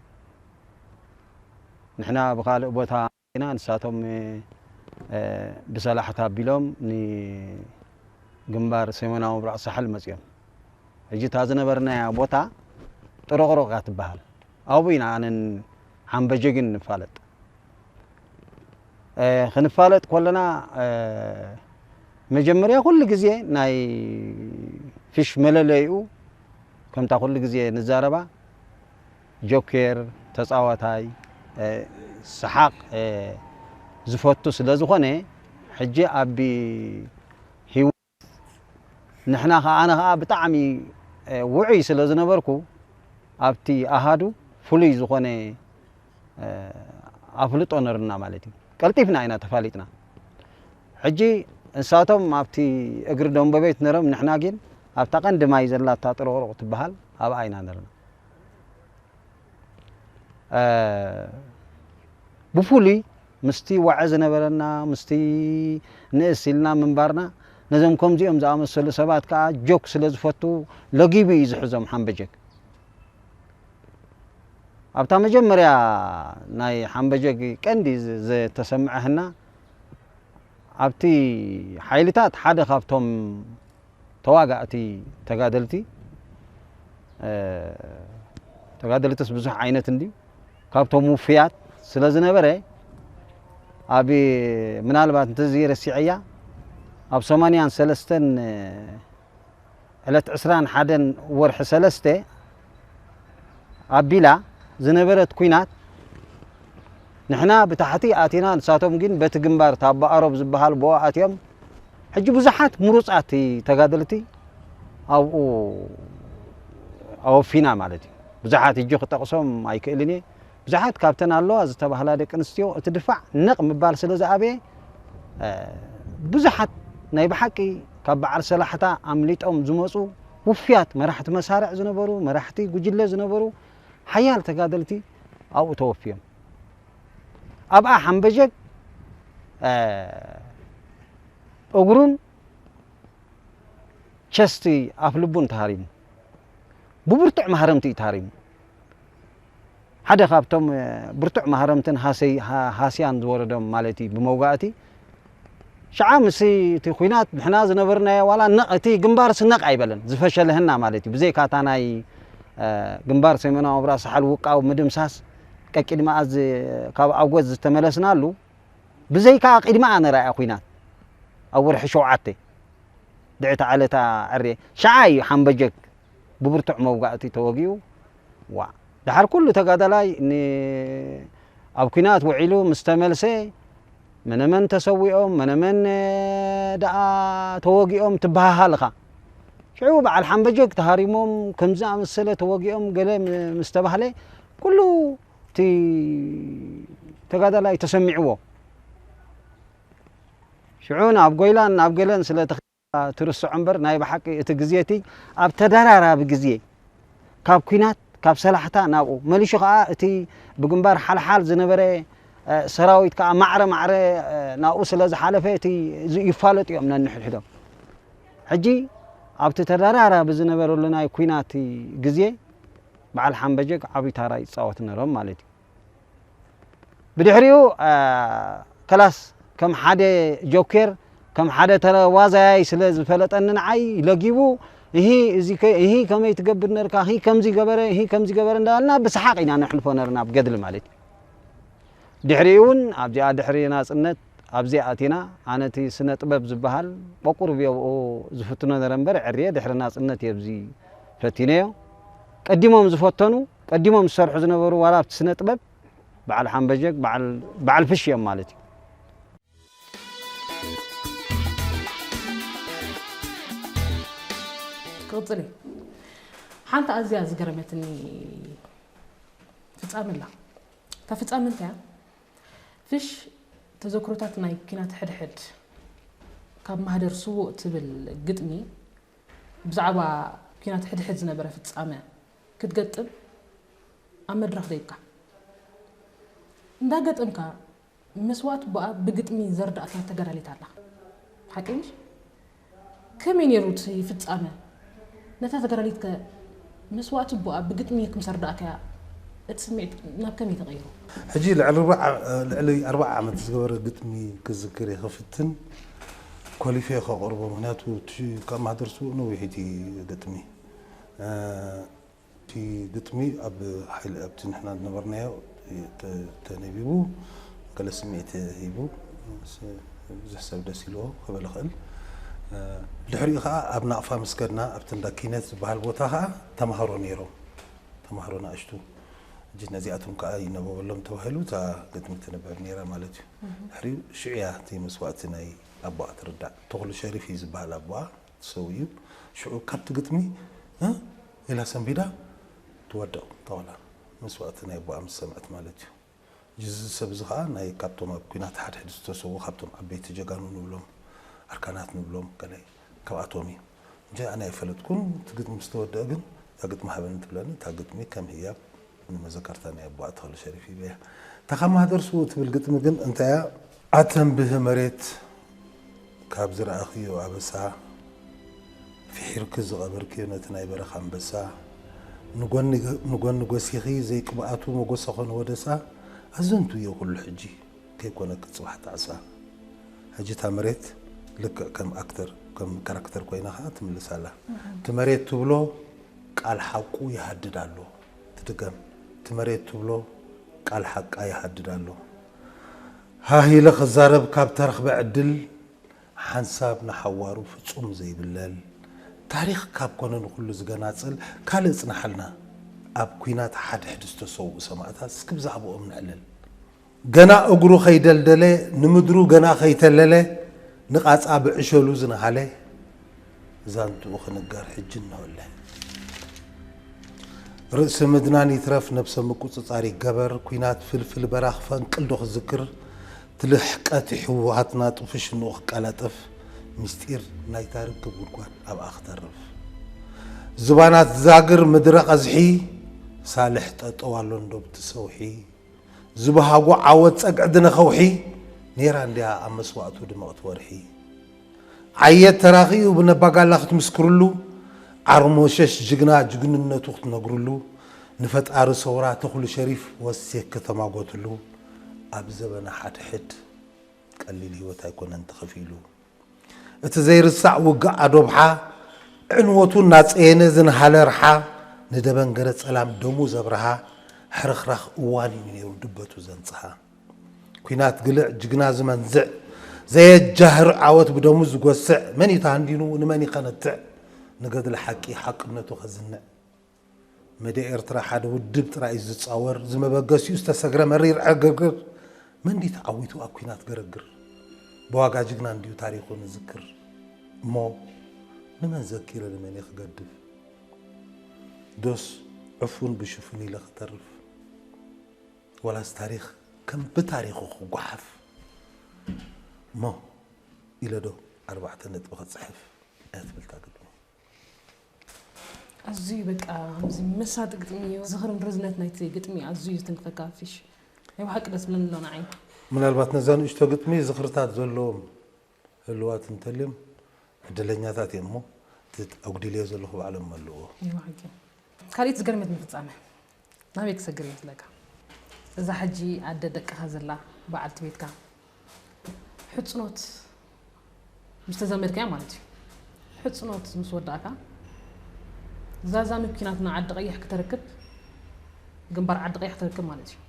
ንሕና ብኻልእ ቦታ ኢና ንሳቶም ብሰላሕታ ኣቢሎም ንግንባር ሰሜናዊ ምብራቕ ሳሕል መጺኦም። ሕጂ እታ ዝነበርናያ ቦታ ጥሮቕሮቕ እያ ትበሃል። ኣብኡ ኢና ኣነን ሓምበጀግን ንፋለጥ። ክንፋለጥ ኮለና መጀመርያ ኩሉ ግዜ ናይ ፊሽ መለለይኡ ከምታ ኩሉ ግዜ ንዛረባ ጆኬር ተጻዋታይ ሰሓቅ ዝፈቱ ስለ ዝኮነ ሕጂ ኣብ ሂወት ንሕና ከኣ ኣነ ከኣ ብጣዕሚ ውዑይ ስለ ዝነበርኩ ኣብቲ ኣሃዱ ፍሉይ ዝኮነ ኣፍልጦ ነርና ማለት እዩ ቀልጢፍና ኢና ተፋሊጥና ሕጂ እንሳቶም ኣብቲ እግሪ ደንበቤት ነሮም ንሕና ጊን ኣብታ ቀንዲ ማይ ዘላታ ጥሩቅሩቅ ትበሃል ኣብኣ ኢና ነርና ብፍሉይ ምስቲ ዋዒ ዝነበረና ምስቲ ንእስ ኢልና ምንባርና ነዞም ከምዚኦም ዝኣመሰሉ ሰባት ከዓ ጆክ ስለ ዝፈቱ ለጊቡ እዩ ዝሕዞም ሓምበጀክ ኣብታ መጀመርያ ናይ ሓምበጀግ ቀንዲ ዝተሰምዐህና ኣብቲ ሓይልታት ሓደ ካብቶም ተዋጋእቲ ተጋደልቲ ተጋደልትስ ብዙሕ ዓይነት እንድዩ ካብቶም ውፍያት ስለ ዝነበረ ኣብ ምናልባት እንተዚ ረሲዐያ ኣብ ሰማንያን ሰለስተን ዕለት ዕስራን ሓደን ወርሒ ሰለስተ ኣቢላ ዝነበረት ኩናት ንሕና ብታሕቲ ኣቲና ንሳቶም ግን በቲ ግንባር ታባኣሮብ ዝበሃል ብኡ ኣትዮም ሕጂ ብዙሓት ምሩፃት ተጋደልቲ ኣብኡ ኣወፊና ማለት እዩ ብዙሓት እጂ ክጠቕሶም ኣይክእልን እየ ብዙሓት ካብተን ኣለዋ ዝተባህላ ደቂ ኣንስትዮ እቲ ድፋዕ ነቕ ምባል ስለ ዝኣበየ ብዙሓት ናይ ብሓቂ ካብ በዓል ሰላሕታ ኣምሊጦም ዝመፁ ውፍያት መራሕቲ መሳርዕ ዝነበሩ መራሕቲ ጉጅለ ዝነበሩ ሓያል ተጋደልቲ ኣብኡ ተወፍዮም ኣብኣ ሓምበዠግ እግሩን ቸስቲ ኣፍልቡን ተሃሪሙ ብብርቱዕ ማህረምቲ እዩ ተሃሪሙ ሓደ ካብቶም ብርቱዕ ማህረምትን ሃሰይ ሃስያን ዝወረዶም ማለት ብመውጋእቲ ሽዓ ምስ እቲ ኩናት ንሕና ዝነበርናዮ ዋላ ነቕ እቲ ግንባርሲ ነቕ ኣይበለን ዝፈሸለህና ማለት እዩ ብዘይካ እታ ናይ ግንባር ሰሜናዊ ምብራቅ ሳሕል ውቃው ምድምሳስ ቀቂድማኣ ካብ ኣጎት ዝተመለስናሉ ብዘይካ ቂድማኣ ነራያ ኩናት ኣብ ወርሒ ሸውዓተ ድዕቲ ዓለታ ዕርየ ሽዓ እዩ ሓምበጀግ ብብርቱዕ መውጋእቲ ተወጊኡ ዋእ። ደሓር ኩሉ ተጋዳላይ ን ኣብ ኩናት ውዒሉ ምስ ተመልሰ መነመን ተሰዊኦም መነመን ደኣ ተወጊኦም ትበሃሃል እኻ ሽዑ በዓል ሓምበጀግ ተሃሪሞም ከምዚ ዝኣመሰለ ተወጊኦም ገለ ምስ ተባህለ ኩሉ እቲ ተጋዳላይ ተሰሚዕዎ ሽዑ ናብ ጎይላን ናብ ገለን ስለ እባ ትርስዖ እምበር ናይ ብሓቂ እቲ ግዜ እቲ ኣብ ተደራራቢ ግዜ ካብ ኩናት ካብ ሰላሕታ ናብኡ መሊሹ ከኣ እቲ ብግንባር ሓልሓል ዝነበረ ሰራዊት ከኣ ማዕረ ማዕረ ናብኡ ስለ ዝሓለፈ እቲ ይፋለጡ እዮም ነንሕድሕዶም ሕጂ ኣብቲ ተደራራቢ ዝነበረሉ ናይ ኩናት ግዜ በዓል ሓምበጀግ ዓቢ ታራ ይጻወት ነሮም ማለት እዩ። ብድሕሪኡ ከላስ ከም ሓደ ጆኬር ከም ሓደ ተዋዛያይ ስለ ዝፈለጠኒ ንዓይ ለጊቡ እሂ እዚ እሂ ከመይ ትገብር ነርካ እሂ ከምዚ ገበረ እሂ ከምዚ ገበረ እንዳበልና ብሰሓቕ ኢና ነሕልፎ ነርና ኣብ ገድሊ ማለት እዩ ድሕሪኡ እውን ኣብዚኣ ድሕሪ ናፅነት ኣብዚ ኣቲና ኣነ እቲ ስነ ጥበብ ዝበሃል ቆቁርብ የብኡ ዝፍትኖ ነረ እምበር ዕርየ ድሕሪ ናፅነት እየ ብዚ ፈቲነዮ ቀዲሞም ዝፈተኑ ቀዲሞም ዝሰርሑ ዝነበሩ ዋላ ኣብቲ ስነ ጥበብ በዓል ሓምበጀግ በዓል በዓል ፍሽ እዮም ማለት እዩ። ክቕፅል እዩ ሓንቲ ኣዝያ ዝገረመትኒ ፍጻመ ኣላ እታ ፍጻመ እንታይ እያ ፍሽ ተዘክሮታት ናይ ኪናት ሕድሕድ ካብ ማህደር ስዉእ ትብል ግጥሚ ብዛዕባ ኪናት ሕድሕድ ዝነበረ ፍጻመ ክትገጥም ኣብ መድረኽ ደይብካ እንዳ ገጠምካ መስዋእቲ ኣቦኣ ብግጥሚ ዘርዳእካ ተጋዳሊት ኣላ ሓቀይ ምሽ ከመይ ነይሩ እቲ ፍጻመ ነታ ተጋዳሊት ከ መስዋእቲ ኣቦኣ ብግጥሚ ክም ሰርዳእካያ እቲ ስምዒት ናብ ከመይ ተቐይሩ? ሕጂ ልዕሊ ኣርብዓ ዓመት ዝገበረ ግጥሚ ክዝክር እየ ክፍትን ኮሊፈ ከቕርቦ ምክንያቱ እቲ ካብ ማህደር ስዉእ ነዊሕ እቲ ግጥሚ እቲ ግጥሚ ኣብ ሓይሊ ኣብቲ ንሕና ዝነበርናዮ ተነቢቡ ገለ ስምዒት ሂቡ ብዙሕ ሰብ ደስ ኢልዎ ክብል ይኽእል። ብድሕሪኡ ከዓ ኣብ ናቕፋ ምስ ከድና ኣብቲ እንዳ ኪነት ዝበሃል ቦታ ከዓ ተምሃሮ ነይሮም ተምሃሮ ናእሽቱ እጅ ነዚኣቶም ከዓ ይነበበሎም ተባሂሉ እታ ግጥሚ ትንበብ ነይራ ማለት እዩ። ድሕሪኡ ሽዑ እያ እቲ መስዋእቲ ናይ ኣቦኣ ትርዳእ። ተኽሉ ሸሪፍ እዩ ዝበሃል ኣቦኣ። ሰውዩ ሽዑ ካብቲ ግጥሚ እህ ኢላ ሰንቢዳ ትወድቕ ጣውላ መስዋእቲ ናይ ኣቦኣ ምስ ሰምዐት ማለት እዩ ጅዚ ሰብ እዚ ከኣ ናይ ካብቶም ኣብ ኩናት ሓድሕድ ዝተሰዉ ካብቶም ዓበይቲ ጀጋኑ ንብሎም ኣርካናት ንብሎም ገለ ካብኣቶም እዩ እንጂ ኣነ ኣይፈለጥኩን እቲ ግጥሚ ምስ ተወድኣ ግን እታ ግጥሚ ሃበኒ ትብለኒ እታ ግጥሚ ከም ህያብ ንመዘከርታ ናይ ኣቦኣ ተኽለ ሸሪፍ ኢለ እያ ተካማህ ደርሱ ትብል ግጥሚ ግን እንታይ እያ? ኣተንብህ መሬት ካብ ዝረኣኽዮ ኣበሳ ፊሒርኪ ዝቐበርክዮ ነቲ ናይ በረኻ ኣንበሳ ንጎኒ ጎሲኺ ዘይቅብኣቱ መጎሰ ኮነ ወደሳ ኣዘንቱ እዮ ኩሉ ሕጂ ከይኮነኪ ጽባሕ ጣዕሳ ሕጂ እታ መሬት ልክዕ ከም ኣክተር ከም ካራክተር ኮይና ከኣ ትምልስ ኣላ እቲ መሬት ትብሎ ቃል ሓቁ ይሃድድ ኣሎ ትድገም እቲ መሬት ትብሎ ቃል ሓቃ ይሃድድ ኣሎ ሃህ ኢለ ክዛረብ ካብ ተረኽበ ዕድል ሓንሳብ ንሓዋሩ ፍጹም ዘይብለል ታሪኽ ካብ ኮነ ንኹሉ ዝገናጽል ካልእ ጽናሓልና ኣብ ኩናት ሓድሕድ ዝተሰውኡ ሰማእታት እስኪ ብዛዕብኦም ንዕልል ገና እግሩ ከይደልደለ ንምድሩ ገና ከይተለለ ንቓጻ ብዕሸሉ ዝነሃለ ዛንትኡ ክንገር ሕጂ እነሆለ። ርእሲ ምድናን ይትረፍ ነብሰ ምቁጽጻር ይገበር ኩናት ፍልፍል በራኽ ፈንቅል ዶ ክዝክር ትልሕቀት ይሕወሃትና ጥፉ ሽንኡ ክቀላጠፍ ምስጢር ናይታ ርክብ ጉድጓድ ኣብኣ ክተርፍ ዝባናት ዛግር ምድረ ቐዝሒ ሳልሕ ጠጠው ኣሎን ዶብቲ ሰውሒ ዝብሃጎ ዓወት ጸግዒ ድነ ከውሒ ኔራ እንድያ ኣብ መስዋእቱ ድምቕቲ ወርሒ ዓየት ተራኺኡ ብነባጋላ ክትምስክርሉ ዓርሞሸሽ ጅግና ጅግንነቱ ክትነግርሉ ንፈጣሪ ሰውራ ተኽሉ ሸሪፍ ወሴክ ከተማጎትሉ ኣብ ዘበነ ሓድሕድ ቀሊል ህይወት ኣይኮነን ተኸፊሉ እቲ ዘይርሳዕ ውግእ ኣዶብሓ ዕንወቱ እናጸየነ ዝንሃለ ርሓ ንደበንገረ ጸላም ደሙ ዘብርሃ ሕርኽራኽ እዋን እዩ ነይሩ ድበቱ ዘንጽሃ ኲናት ግልዕ ጅግና ዝመንዝዕ ዘየጃህር ዓወት ብደሙ ዝጎስዕ መን እዩ ተሃንዲኑ ንመን ይኸነትዕ ንገድሊ ሓቂ ሓቅነቱ ከዝንዕ መድያ ኤርትራ ሓደ ውድብ ጥራይ እዩ ዝጻወር ዝመበገሲኡ ዝተሰግረ መሪር ዕግርግር መን ድዩ ተዓዊቱ ኣብ ኩናት ገረግር ብዋጋ ጅግና እንድዩ ታሪኹ ንዝክር እሞ ንመን ዘኪረ ንመን እየ ክገድፍ ዶስ ዕፉን ብሽፉን ኢለ ክተርፍ ወላስ ታሪኽ ከም ብታሪኹ ክጓሓፍ እሞ ኢለ ዶ ኣርባዕተ ነጥቢ ክጽሕፍ እያ ትብል እታ ግጥሚ ኣዙይ በቃ ኣዚ መሳጢ ግጥሚ እዩ ዝኽርን ርዝነት ናይቲ ግጥሚ ኣዙይ ዝትንክፈካ ፊሽ ናይ ብሓቂ ደስ ብለኒ ኣሎ ንዓይ። ምናልባት ነዛ ንእሽቶ ግጥሚ ዝኽርታት ዘለዎም ህልዋት እንተልዮም ዕድለኛታት እዮም እሞ እቲ ኣጉዲለዮ ዘለኹ ባዕሎም ይመልእዎ። ካሊእት ዝገርመትኒ ፍጻመ ናበይ ክሰግር ይመስለካ እዛ ሕጂ ኣደ ደቅካ ዘላ በዓልቲ ቤትካ ሕጽኖት ምስ ተዛመድካያ ማለት እዩ ሕጽኖት ምስ ወዳእካ ዛዛ ምኪናትና ዓዲ ቀይሕ ክተርክብ ግንባር ዓዲ ቀይሕ ክተርክብ ማለት እዩ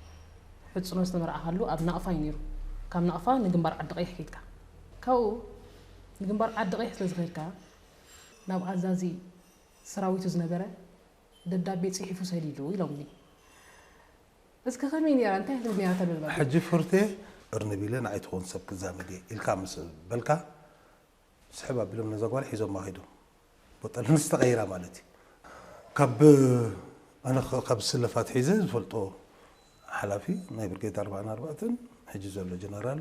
ሕጽኖት ዝተመርዓካሉ ኣብ ናቕፋ እዩ ነይሩ ካብ ናቕፋ ንግንባር ዓዲ ቀይሕ ከይድካ ካብኡ ንግንባር ዓዲ ቀይሕ ስለ ዝኸድካ ናብ ኣዛዚ ሰራዊቱ ዝነበረ ደብዳቤ ጽሒፉ ሰዲዱ ኢሎምኒ። እስከ ከመይ ኔራ እንታይ ክትብል ኔራ እታ ደብዳቤ? ሕጂ ፍርቴ እርንብ ኢለ ንዓይ ትኾን ሰብ ክዛመድ እየ ኢልካ ምስ በልካ ስሕብ ኣቢሎም ነዛ ጓል ሒዞማ ከይዶም። ቦጠልንስ ተቐይራ ማለት እዩ። ካብ ኣነ ካብ ስለፍ ኣትሒዘ ዝፈልጦ ሓላፊ ናይ ብርጌድ ኣርብዓን ኣርባዕተን ሕጂ ዘሎ ጀነራል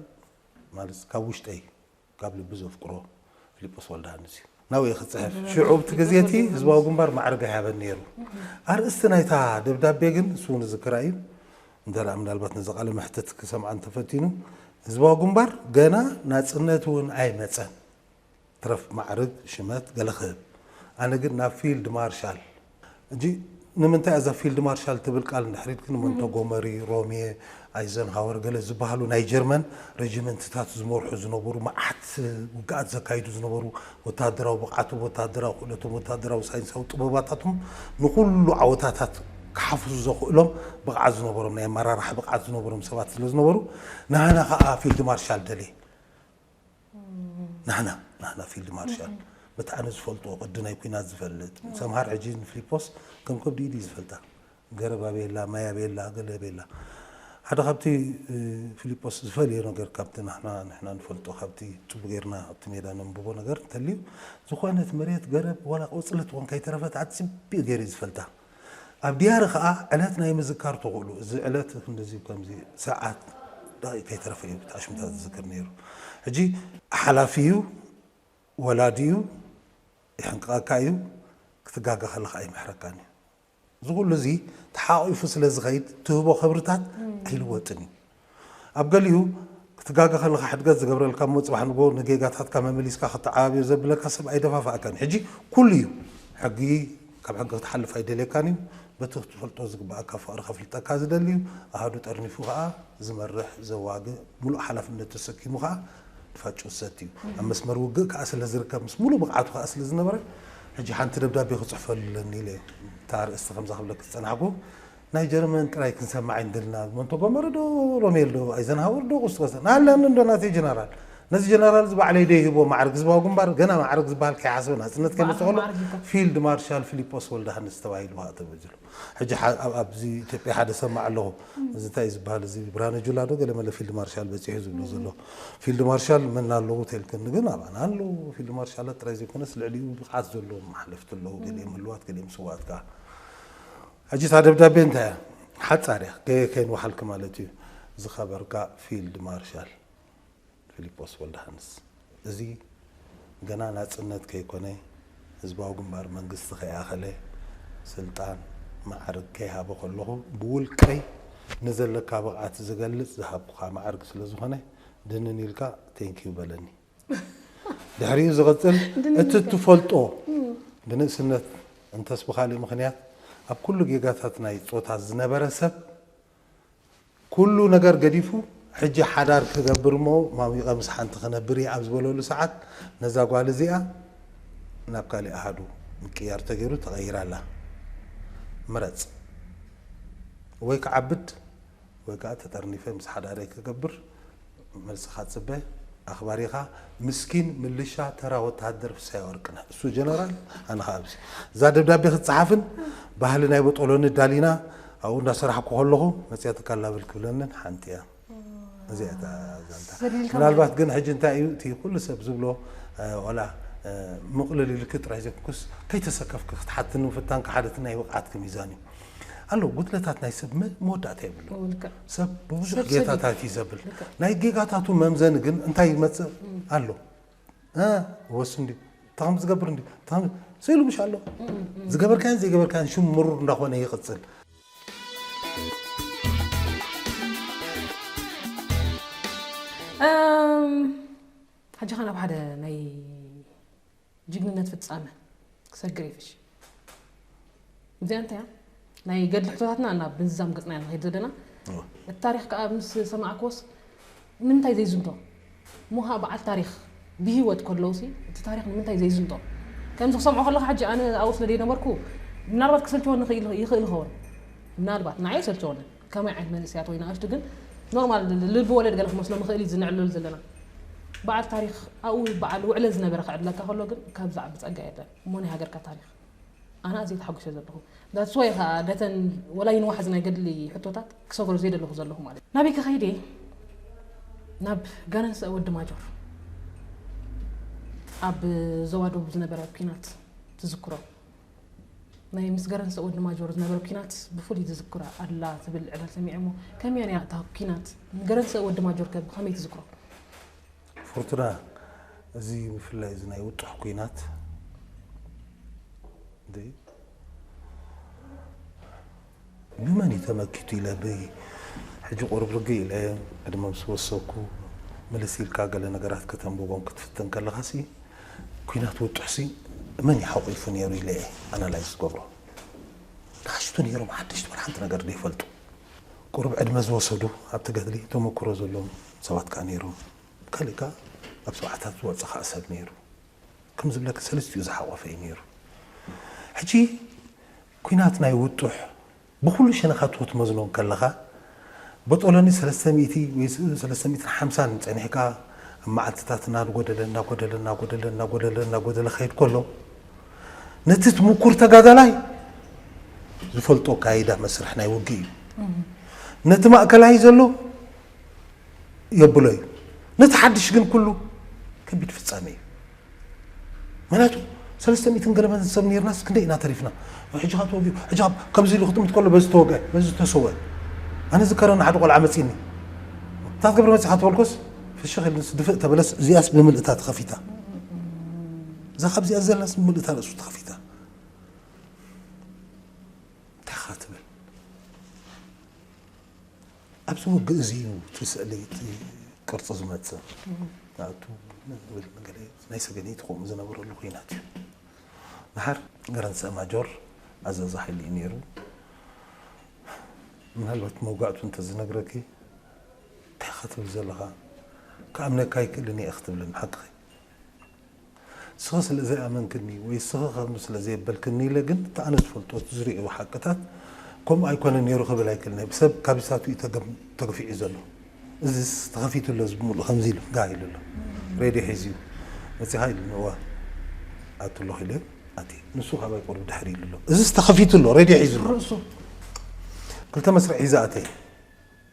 ማለት ካብ ውሽጠይ ካብ ልቢ ዘፍቅሮ ፍሊጶስ ወልደሃንስ እዩ። ናብኡ ክጽሕፍ ሽዑ ኣብቲ ግዜ እቲ ህዝባዊ ግንባር ማዕርግ ኣይሃበን ነይሩ። ኣርእስቲ ናይታ ደብዳቤ ግን ንሱ እውን ዝዝክራ እዩ፣ እንተ ምናልባት ነዚ ቃለ መሕትት ክሰምዓ እንተፈቲኑ፣ ህዝባዊ ግንባር ገና ናጽነት እውን ኣይመጸን፣ ትረፍ ማዕርግ ሽመት ገለ ክህብ፣ ኣነ ግን ናብ ፊልድ ማርሻል ሕጂ ንምንታይ እያ እዛ ፊልድ ማርሻል ትብል ቃል ንድሕሪት ግን ሞንቶጎመሪ፣ ሮምየ፣ ኣይዘንሃወር ገለ ዝበሃሉ ናይ ጀርመን ረጅመንትታት ዝመርሑ ዝነበሩ መዓት ውግኣት ዘካይዱ ዝነበሩ ወተሃደራዊ ብቕዓቶም፣ ወተሃደራዊ ክእለቶም፣ ወተሃደራዊ ሳይንሳዊ ጥበባታቶም ንኹሉ ዓወታታት ክሓፍሱ ዘኽእሎም ብቕዓት ዝነበሮም ናይ ኣመራርሓ ብቕዓት ዝነበሮም ሰባት ስለዝነበሩ ንሃና ከኣ ፊልድ ማርሻል ደልየ። ናህና ናህና ፊልድ ማርሻል በቲ ኣነ ዝፈልጦ ቅዲ ናይ ኩናት ዝፈልጥ ሰምሃር ሕጂ ንፍሊፖስ ከም ከብዲ ኢድ እዩ ዝፈልጣ ገረብ ኣበየላ ማይ ኣበየላ ገለ ኣበየላ ሓደ ካብቲ ፍሊጶስ ዝፈልዮ ነገር ካብቲ ናህና ንሕና ንፈልጦ ካብቲ ጽቡ ጌርና ኣብቲ ሜዳ ነንብቦ ነገር እንተልዩ ዝኾነት መሬት ገረብ ዋላ ቆጽሊ ትኾን ከይተረፈት ኣጽብዩ ገይሩ ዝፈልጣ ኣብ ድያሪ ከኣ ዕለት ናይ ምዝካር ተኽእሎ እዚ ዕለት ክንድዚ ከምዚ ሰዓት ደቂቅ ከይተረፈ እዩ እቲ ኣሽሙታ ዝዝክር ነይሩ ሕጂ ሓላፊ እዩ ወላዲ እዩ ይሕንቅቀካ እዩ ክትጋገ ከለካ ኣይምሕረካን እዩ እዚ ኩሉ እዚ ተሓቂፉ ስለ ዝኸይድ ትህቦ ክብርታት ኣይልወጥን እዩ ኣብ ገሊኡ ክትጋገ ከለኻ ሕድገት ዝገብረልካ እሞ ጽባሕ ንግሆ ንጌጋታትካ መመሊስካ ከተዓባብዮ ዘብለካ ሰብ ኣይደፋፍኣካን እዩ። ሕጂ ኩሉ እዩ ሕጊ ካብ ሕጊ ክትሓልፍ ኣይደልየካን እዩ። በቲ ክትፈልጦ ዝግብኣካ ፍቕሪ ከፍልጠካ ዝደሊ እዩ። ኣሃዱ ጠርኒፉ ከኣ ዝመርሕ ዘዋግእ ምሉእ ሓላፍነት ተሰኪሙ ከኣ ንፋጩ ዝሰቲ እዩ። ኣብ መስመር ውግእ ከኣ ስለ ዝርከብ ምስ ምሉእ ብቕዓቱ ከኣ ስለ ዝነበረ ሕጂ ሓንቲ ደብዳቤ ክጽሕፈሉ ኣለኒ ኢለ እታ ኣርእስቲ ከምዛ ክብለኪ ዝጸናሕኩ ናይ ጀርመን ጥራይ ክንሰምዕ ኣይንደልና ሞንቶጎመሪ ዶ ሮሜል ዶ ኣይዘንሃወር ዶ ቁስት ቀሰ ናሃልያኒ እንዶ ናተይ ጀነራል ነዚ ጀነራል እዚ ባዕለይ ዶ ይህቦ ማዕርግ ህዝባዊ ግንባር ገና ማዕርግ ዝበሃል ከይሓሰበ ናጽነት ከይመጽእ ከሎ ፊልድ ማርሻል ፊሊጶስ ወልደሃንስ ተባሂሉ ሃእ ተበጅሉ ሕጂ ኣብዚ ኢትዮጵያ ሓደ ሰማዕ ኣለኹ እዚ እንታይ እዩ ዝበሃል እዚ ብርሃነ ጁላ ዶ ገለ መለ ፊልድ ማርሻል በጺሑ ዝብሎ ዘሎ ፊልድ ማርሻል መን ኣለዎ ተልክኒ ግን ኣባና ኣለዉ ፊልድ ማርሻላት ጥራይ ዘይኮነስ ልዕሊኡ ብቕዓት ዘለዎም ሓለፍቲ ኣለዉ ገሊኦም ህልዋት ገሊኦም ስውኣት ከኣ ሕጂ እታ ደብዳቤ እንታይ እያ? ሓጻር እያ፣ ገየ ከይንወሓልኪ ማለት እዩ። ዝኸበርካ ፊልድ ማርሻል ፊሊጶስ ወልደሃንስ፣ እዚ ገና ናጽነት ከይኮነ፣ ህዝባዊ ግንባር መንግስቲ ከይኣኸለ፣ ስልጣን መዓርግ ከይሃበ ከለኹ፣ ብውልቀይ ንዘለካ ብቕዓት ዝገልጽ ዝሃብኩኻ መዓርግ ስለዝኾነ፣ ድንን ኢልካ ቴንኪው በለኒ። ድሕሪኡ ዝቕጽል እቲ እትፈልጦ ብንእስነት እንተስ ብኻልእ ምኽንያት ኣብ ኩሉ ጌጋታት ናይ ጾታ ዝነበረ ሰብ ኩሉ ነገር ገዲፉ ሕጂ ሓዳር ክገብር እሞ ማሚቐ ምስ ሓንቲ ክነብር እየ ኣብ ዝበለሉ ሰዓት ነዛ ጓል እዚኣ ናብ ካሊእ ኣሃዱ ምቅያር ተገይሩ ተቐይራ ኣላ። ምረጽ። ወይ ክዓብድ ወይ ከኣ ተጠርኒፈ ምስ ሓዳረይ ክገብር መልስኻ ጽበ ኣኽባሪኻ ምስኪን ምልሻ ተራ ወተሃደር ፍስሃየ ወርቅነህ እሱ ጀነራል ኣነ ከኣ ኣብዚ እዛ ደብዳቤ ክትጽሓፍን ባህሊ ናይ በጦሎኒ ዳሊና ኣብኡ እንዳሰራሕኩ ከለኹ መጽያ ትካል ላብል ክብለንን ሓንቲ እያ እዚኣ እያ እታ ዛንታ ዘሊልካ ምናልባት ግን ሕጂ እንታይ እዩ እቲ ኩሉ ሰብ ዝብሎ እ፣ ዋላ እ፣ ምቕልል ኢልኪ ጥራይ ዘይኮንኩስ ከይተሰከፍኪ ክትሓትኒ ምፍታንኪ ሓደ እቲ ናይ ብቕዓትኪ ሚዛን እዩ ኣሎ ጉድለታት ናይ ሰብ መ- መወዳእታ የብሉ ኦ፣ ልክዕ። ሰብ ብብዙሕ ሰብ ሰብ ጌታታት እዩ ዘብል ልክዕ። ናይ ጌጋታቱ መምዘኒ ግን እንታይ ይመፅእ ኣሎ እ፣ ወስ እንዲ እንተ ከምዚ ዝገብር እንዲ እንተ ከምዚ ስኢሉ ምሽ ኣሎ ዝገበርካዮን ዘይገበርካዮን ሽም ምሩር እንዳኾነ ይቕፅል እም፣ ሕጂ ከ ናብ ሓደ ናይ ጅግንነት ፍጻመ ክሰግር ይፍሽ እዚኣ እንታይ እያ ናይ ገድሊ ሕቶታትና እና ብምዝዛም ገጽና ኢና ንኸይድ ዘለና እቲ ታሪክ ከዓ ምስ ሰማዕክዎስ ንምንታይ ዘይዝንቶ እሞ ከዓ በዓል ታሪክ ብሂወት ከለውሲ እቲ ታሪክ ንምንታይ ዘይዝንቶ ከምዚ ክሰምዖ ከለካ ሕጂ ኣነ ኣብኡ ስለ ዘይነበርኩ ምናልባት ክሰልቸወኒ ይኽእል ይኸውን ምናልባት ንዓይ ሰልቸወኒ ከመይ ዓይነት መንእሰያት ወይ ንኣሽቱ ግን ኖርማል ልቢ ወለድ ገለ ክመስሎ ምኽእል እዩ ዝንዕለሉ ዘለና በዓል ታሪኽ ኣብኡ በዓል ውዕለ ዝነበረ ክዕድለካ ከሎ ግን ካብ ዝዓቢ ጸጋ የለን እሞ ናይ ሃገርካ ታሪኽ ኣነ ኣዝየ ተሓጒሰ ዘለኹ ዳትስ ዋይ ከኣ ነተን ወላ ይንዋሕ ናይ ገድሊ ሕቶታት ክሰገሮ ዘይደለኹ ዘለኹ ማለት ናበይ ከኸይድ እየ ናብ ጋነንሰ ወዲ ማጆር ኣብ ዞባ ደቡብ ዝነበረ ኩናት ትዝክሮ ናይ ምስ ገረንሰ ወዲ ማጆር ዝነበረ ኩናት ብፍሉይ ትዝክሮ ኣላ ዝብል ዕላል ሰሚዐ እሞ ከመይ ነያ እታ ኩናት ገረንሰ ወዲ ማጆር ከ ብኸመይ ትዝክሮ? ፎርቱና እዚ ብፍላይ እዚ ናይ ውጡሕ ኩናት ብመን እዩ ተመኪቱ ኢለ ብ ሕጂ ቁሩብ ርግእ ኢለ ዕድመ ምስ ወሰኩ ምልስ ኢልካ ገለ ነገራት ከተንብቦም ክትፍትን ከለካሲ ኩናት ውጡሕሲ መን እዩ ሓቂፉ ኔሩ ኢለ እየ ኣናላይዝ ዝገብሮ ንኣሽቱ ኔሮም ሓደሽቲ ዋላ ሓንቲ ነገር ዘይፈልጡ ቁሩብ ዕድመ ዝወሰዱ ኣብቲ ገድሊ ተመኩሮ ዘሎም ሰባት ከኣ ኔሮም ካሊእ ከኣ ኣብ ሰብዓታት ዝወጸ ከኣ ሰብ ኔሩ ከም ዝብለኪ ሰልስቲኡ ዝሓቆፈ እዩ ኔሩ ሕጂ ኲናት ናይ ውጡሕ ብኹሉ ሸነኻቱ ክትመዝኖ እንከለኻ በጦሎኒ ሰለስተ ሚእቲ ወይ ሰለስተ ሚእትን ሓምሳን ጸኒሕካ ኣብ መዓልትታት እናጎደለ እናጎደለ እናጎደለ እናጎደለ እናጎደለ ክኸይድ ከሎ ነቲ ትሙኩር ተጋዳላይ ዝፈልጦ ኣካይዳ መስርሕ ናይ ውግእ እዩ ነቲ ማእከላይ ዘሎ የብሎ እዩ ነቲ ሓድሽ ግን ኩሉ ከቢድ ፍጻሜ እዩ ምክንያቱ ሰለስተ ሚእትን ገለመን ሰብ ኔርናስ ክንደይ ኢና ተሪፍና ሕጂ ካብ ተወጊኡ ሕጂ ካብ ከምዚ ኢሉ ክጥምት ከሎ በዚ ተወግአ በዚ ዝተሰውአ ኣነ ዝከረኒ ሓደ ቆልዓ መጺኒ እንታይ ክትገብር መጺኻ ተበልኮስ ፍሽኽ ኢሉንስ ድፍእ ተበለስ እዚኣስ ብምልእታ ተኸፊታ እዛ ካብዚኣ ዘላስ ብምልእታ ርእሱ ተኸፊታ እንታይ ኻ ትብል ኣብዚ ውግእ እዚ እዩ እቲ ስእሊ እቲ ቅርፂ ዝመፅእ ናቱ ናይ ሰገነይቲ ከምኡ ዝነበረሉ ኩናት እዩ ድሓር ገረንሰ ማጆር ኣዛዚ ሓይሊ እዩ ነይሩ ምናልባት መውጋእቱ እንተዝነግረኪ እንታይ ክትብል ዘለኻ ክኣምነካ ኣይክእልን እየ ክትብልን ሓቅኺ ስኺ ስለ ዘይኣመንክኒ ወይ ስኺ ከምኡ ስለ ዘየበልክኒ ኢለ ግን እቲ ኣነ ዝፈልጦ እቲ ዝርእዮ ሓቅታት ከምኡ ኣይኮነን ኔሩ ክብል ኣይክእልን እየ ብሰብ ካብዚታት እዩ ተገፊዑ ዘሎ እዚስ ተኸፊቱ ኣሎ እዚ ብምሉኡ ከምዚ ኢሉ ጋህ ኢሉ ኣሎ ሬድዮ ሒዙ እዩ መጺኻ ኢሉኒ እወ ኣቱ ኣለኹ ኢለ ኣትየ ንሱ ካባይ ቁሩብ ድሕሪ ኢሉ ኣሎ እዚስ ተኸፊቱ ኣሎ ሬድዮ ሒዙ ኣሎ ርእሱ ክልተ መስርዕ ሒዘ ኣተየ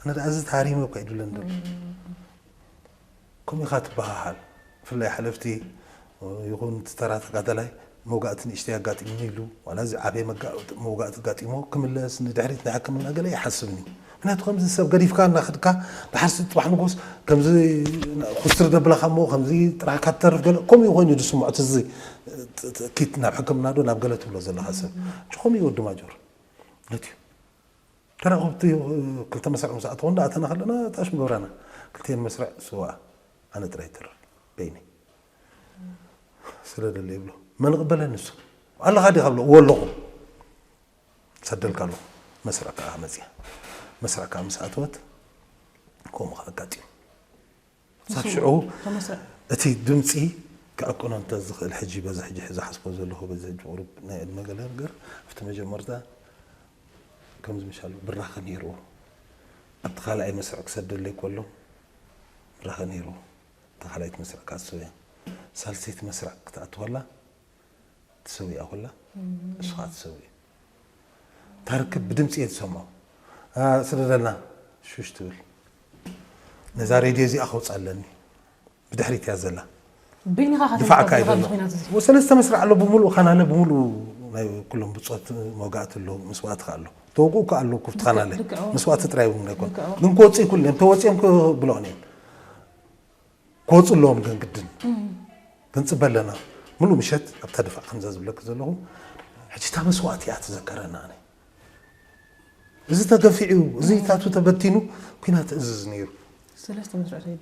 ኣነ ኣዚ ተሃሪመ እኳ ይድለ እንበር ከምኡ ኢኻ ትበሃሃል ብፍላይ ሓለፍቲ ይኹን እቲ ተራ ተጋዳላይ መውጋእቲ ንእሽተይ ኣጋጢሙኒ ኢሉ ዋላ እዚ ዓበየ መውጋእቲ ኣጋጢሞ ክምለስ ንድሕሪት ንሕክምና ገለ ይሓስብኒ እዩ ምክንያቱ ከምዚ ሰብ ገዲፍካ እናኸድካ ድሓርሲ ፅባሕ ንጎስ ከምዚ ኩስትር ደብላኻ እሞ ከምዚ ጥራሕካ ትተርፍ ገለ ከምኡ ኮይኑ ዝስምዖ ትዚ ኪት ናብ ሕክምና ዶ ናብ ገለ ትብሎ ዘለኻ ሰብ ከምኡ እዩ ወዲ ማጆር ነትዩ ተራኸብቲ ክልተ መስርዕ ምስ ኣተኹ እንዳ ኣተና ከለና ጣሽ ምገብራና ክልቲኤን መስርዕ ስውኣ ኣነ ጥራይ ይተርፍ በይነይ ስለ ደለ ይብሎ መን ቕበለን ንሱ ኣለኻ ዲኻ ብሎ እዎ ኣለኹ ሰደልካ ኣለኹ መስርዕ ከዓ መፅያ መስርዕ ከዓ ምስ ኣተወት ከምኡ ከዓ ኣጋጢሙ ክሳብ ሽዑ እቲ ድምፂ ክዕቅኖ እንተዝኽእል ሕጂ በዚ ሕጂ ዝሓስቦ ዘለኹ በዚ ሕጂ ቁሩብ ናይ ዕድመ ገለ ነገር ኣብቲ መጀመርታ ከምዚ ምሻሉ ብራኸ ነይርዎ ኣብቲ ካልኣይ መስርዕ ክሰደለይ ከሎ ብራኸ ነይርዎ እታ ካልኣይቲ መስርዕ ካሶ እያ ሳልሰይቲ መስርዕ ክትኣትወላ ትሰዊኣ ኩላ እሱ ከዓ ትሰዊ ታርክብ ብድምፂ እየ ዝሰምዖ ስደደልና ሹሽ ትብል ነዛ ሬድዮ እዚኣ ከውፅኣ ኣለኒ ብድሕሪት እያ ዘላ ድፋዕካ እዩ ዘሎ ሰለስተ መስርዕ ኣሎ ብምሉእ ካናለ ብምሉእ ናይ ኩሎም ብፆት መውጋእቲ ኣሎ መስዋእቲ ከዓ ኣሎ ተወግኡ ከዓ ኣሎ ኩፍቲ ካናለ መስዋእቲ ጥራይ እውን ኣይኮን ግን ክወፅኡ ይኩሉ እዮም ተወፂኦም ክብለኦም እዮም ክወፁ ኣለዎም ግን ግድን ክንፅበ ኣለና ሙሉእ ምሸት ኣብታ ድፋዕ ከምዛ ዝብለኪ ዘለኹ ሕጂ እታ መስዋእቲ እያ ትዘከረና ኣነ እዚ ተገፊዑ እዚ ታቱ ተበቲኑ ኩናት እዝዝ ነይሩ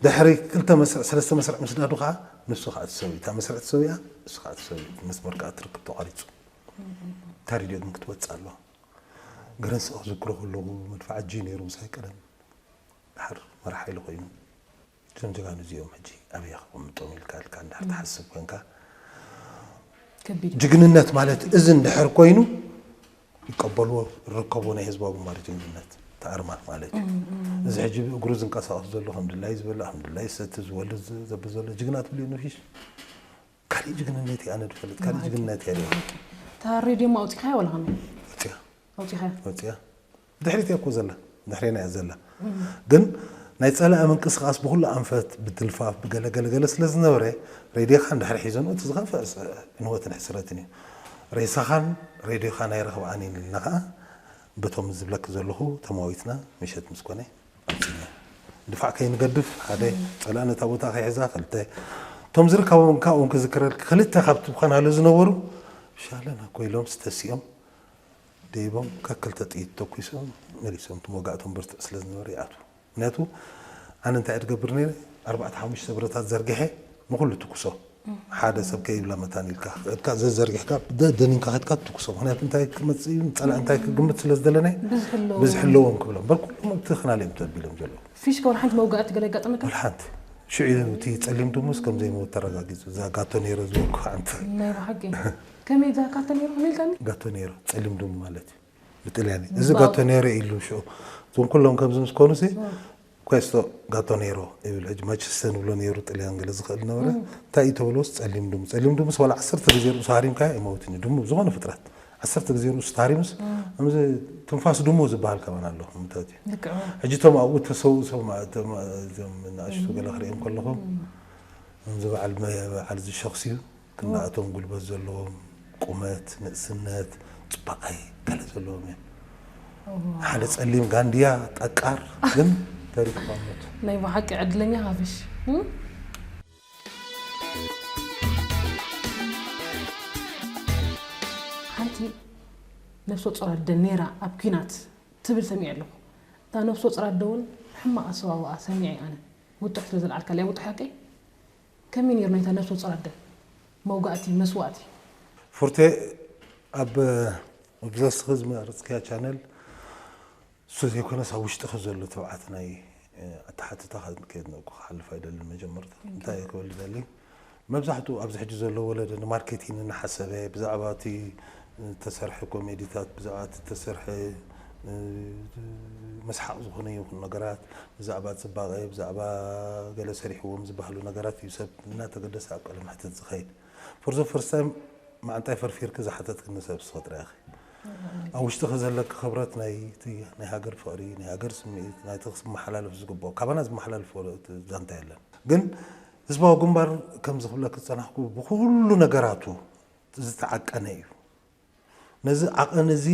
ድሕሪ ክልተ መስርዕ ሰለስተ መስርዕ ምስ ዳዱ ከዓ ንሱ ከዓ ትሰዊ እታ መስርዕ ትሰዊያ ንሱ ከዓ ትሰዊ መስመር ከዓ ትርክብ ተቋሪፁ እታ ሬድዮ ግን ክትወፅእ ኣለዋ ገረንሲ ክዝክሮ ከለኹ መድፋዕ እጅ ነይሩ ምሳይ ቀደም ድሓር መርሓ ኢሉ ኮይኑ እዞም ጀጋኑ እዚኦም ሕጂ ኣበይ ከቐምጦም ኢልካ ኢልካ እንድሕር ትሓስብ ኮንካ ከቢድ እዩ። ጅግንነት ማለት እዚ እንድሕር ኮይኑ ይቀበልዎ ይረከብዎ ናይ ህዝባዊ ግንባር ጅግንነት እቲ ኣርማ ማለት እዩ እዚ ሕጂ እግሩ ዝንቀሳቐሱ ዘሎ ከም ድላይ ዝበልዕ ከም ድላይ ዝሰቲ ዝወልድ ዝ- ዘብ ዘሎ ጅግና ትብልዮ ንፊሽ ካሊእ ጅግንነት እዩ ኣነ ድፈልጥ ካሊእ ጅግንነት እየ ሪኦ እታ ሬድዮ ማ ኣውፂኻያ ዋላ ከመይ ወፅያ ኣውፂኻያ ወፅያ ብድሕሪት እያ እኮ ዘላ ድሕሬና እያ ዘላ ግን ናይ ጸላኢ ምንቅስቃስ ብኩሉ ኣንፈት ብትልፋፍ ብገለ ገለ ገለ ስለ ዝነበረ ሬድዮካ እንድሕር ሒዘንኡ እቲ ዝኸፍእ ዕንወትን ሕስረትን እዩ ሬሳኻን ሬድዮኻን ኣይረኽብኣን እየን ኢልና ከኣ በቶም ዝብለኪ ዘለኹ ተማዊትና ምሸት ምስ ኮነ ኣምጺና ድፋዕ ከይንገድፍ ሓደ ጸላኢ ነታ ቦታ ከይሕዛ ክልተ እቶም ዝርከቦም ካብኦም ክዝክረልኪ ክልተ ካብቲ ብኸናሉ ዝነበሩ ሻለና ኮይሎም ስተሲኦም ደይቦም ከክልተ ጥይት ተኲሶም መሊሶም እቲ መውጋእቶም ብርቱዕ ስለ ዝነበረ ይኣትዉ ምኽንያቱ ኣነ እንታይ እየ ዝገብር ነይረ ኣርባዕተ ሓሙሽተ ብረታት ዘርጊሐ ንኹሉ ትኩሶ ሓደ ሰብ ከይብላ መታን ኢልካ ከድካ ዘዘርጊሕካ ደኒንካ ከድካ ትኩሶ ምክንያቱ እንታይ ክመፅእ እዩ ፀላእ እንታይ ክግምት ስለ ዝደለናይ ብዝሒ ኣለዎም ክብሎም በር ኩሎም እቲ ክናል እዮም ተቢሎም ዘለዉ ፊሽካ ወላ ሓንቲ መውጋእቲ ገለ ኣጋጠመካ ወላ ሓንቲ ሽዑ እቲ ፀሊም ድሙስ ከም ዘይመወት ተረጋጊፁ እዛ ጋቶ ነይረ ዝወኩ ሓንቲ ናይ ብሓቂ ከመይ እዛ ጋቶ ነይሩ ከመይ ኢልካኒ? ጋቶ ነይሩ ጸሊም ድሙ ማለት እዩ ብጥልያኒ። እዚ ጋቶ ነይሩ ኢሉ ሽዑ እዞም ኩሎም ከምዚ ምስ ኮኑሲ ኳስቶ ጋቶ ነይሮ ይብል ሕጂ ማንቸስተር ንብሎ ነይሩ ጥልያን ገለ ዝኽእል ነበረ እንታይ እዩ ተብሎስ ጸሊም ድሙ ጸሊም ድሙስ ዋላ ዓሰርተ ግዜ ርእሱ ሃሪምካዮ ኣይመውትን እዩ ድሙ ዝኾነ ፍጥረት ዓሰርተ ግዜ ርእሱ ተሃሪሙስ ከምዚ ትንፋስ ድሙ ዝበሃል ከማን ኣሎ ምታት እዩ ልክዕ እዩ። ሕጂ እቶም ኣብኡ ተሰውኡ ሰማ እቶም እዞም ንኣሽቱ ገለ ክሪኦም ከለኹ ከምዚ በዓል መ- በዓል እዚ ሸኽሲ እዩ እና እቶም ጉልበት ዘለዎም ቁመት፣ ንእስነት፣ ጽባቐይ ገለ ዘለዎም እዮም። ሓደ ጸሊም ጋንድያ ጠቃር ግን ተሪፍካ ሞቱ። ናይ ብሓቂ ዕድለኛ ሃፍሽ ሓንቲ ነፍሰ ጾር ኣደ ኔራ ኣብ ኲናት ትብል ሰሚዐ ኣለኹ። እታ ነፍሰ ጾር ኣደ እውን ሕማቕ ኣሰዋውኣ ሰሚዐ ኣነ። ውጡሕ ስለ ዘልዓልካለያ ውጡሕ ሓቀይ? ከመይ ኔሩ ናይታ ነብሰ ጾር ኣደ መውጋእቲ መስዋእቲ? ፉርቴ ኣብ ብዘስኺ ዝመረጽክያ ቻነል እሱ ዘይኮነስ ኣብ ውሽጥኺ ዘሎ ትብዓት ናይ ኣተሓትታ ከድንቅ ክሓልፍ ኣይደልን መጀመርታ እንታይ እየ ክብል ዝደሊ መብዛሕትኡ ኣብዚ ሕጂ ዘሎ ወለዶ ንማርኬቲን እናሓሰበ ብዛዕባ እቲ ዝተሰርሐ ኮሜዲታት ብዛዕባ እቲ ዝተሰርሐ መስሓቕ ዝኾነ ይኹን ነገራት ብዛዕባ ፅባቐ ብዛዕባ ገለ ሰሪሕዎም ዝበሃሉ ነገራት እዩ ሰብ እናተገደሰ ኣብ ቃለ መሕተት ዝኸይድ ፎር ዘ ፈርስት ታይም ማዓንጣይ ፈርፊርኪ ዝሓተትክኒ ሰብ እስኺ ጥራይ ኢኺ ኣብ ውሽጥኺ ዘለኪ ክብረት ናይቲ ናይ ሃገር ፍቕሪ ናይ ሃገር ስምዒት ናይቲ ክመሓላለፍ ዝግብኦ ካባና ዝመሓላለፍ ዛንታ የለን ግን ህዝባዊ ግንባር ከምዚ ክብለኪ ዝፀናሕኩ ብኩሉ ነገራቱ ዝተዓቀነ እዩ። ነዚ ዓቐን እዚ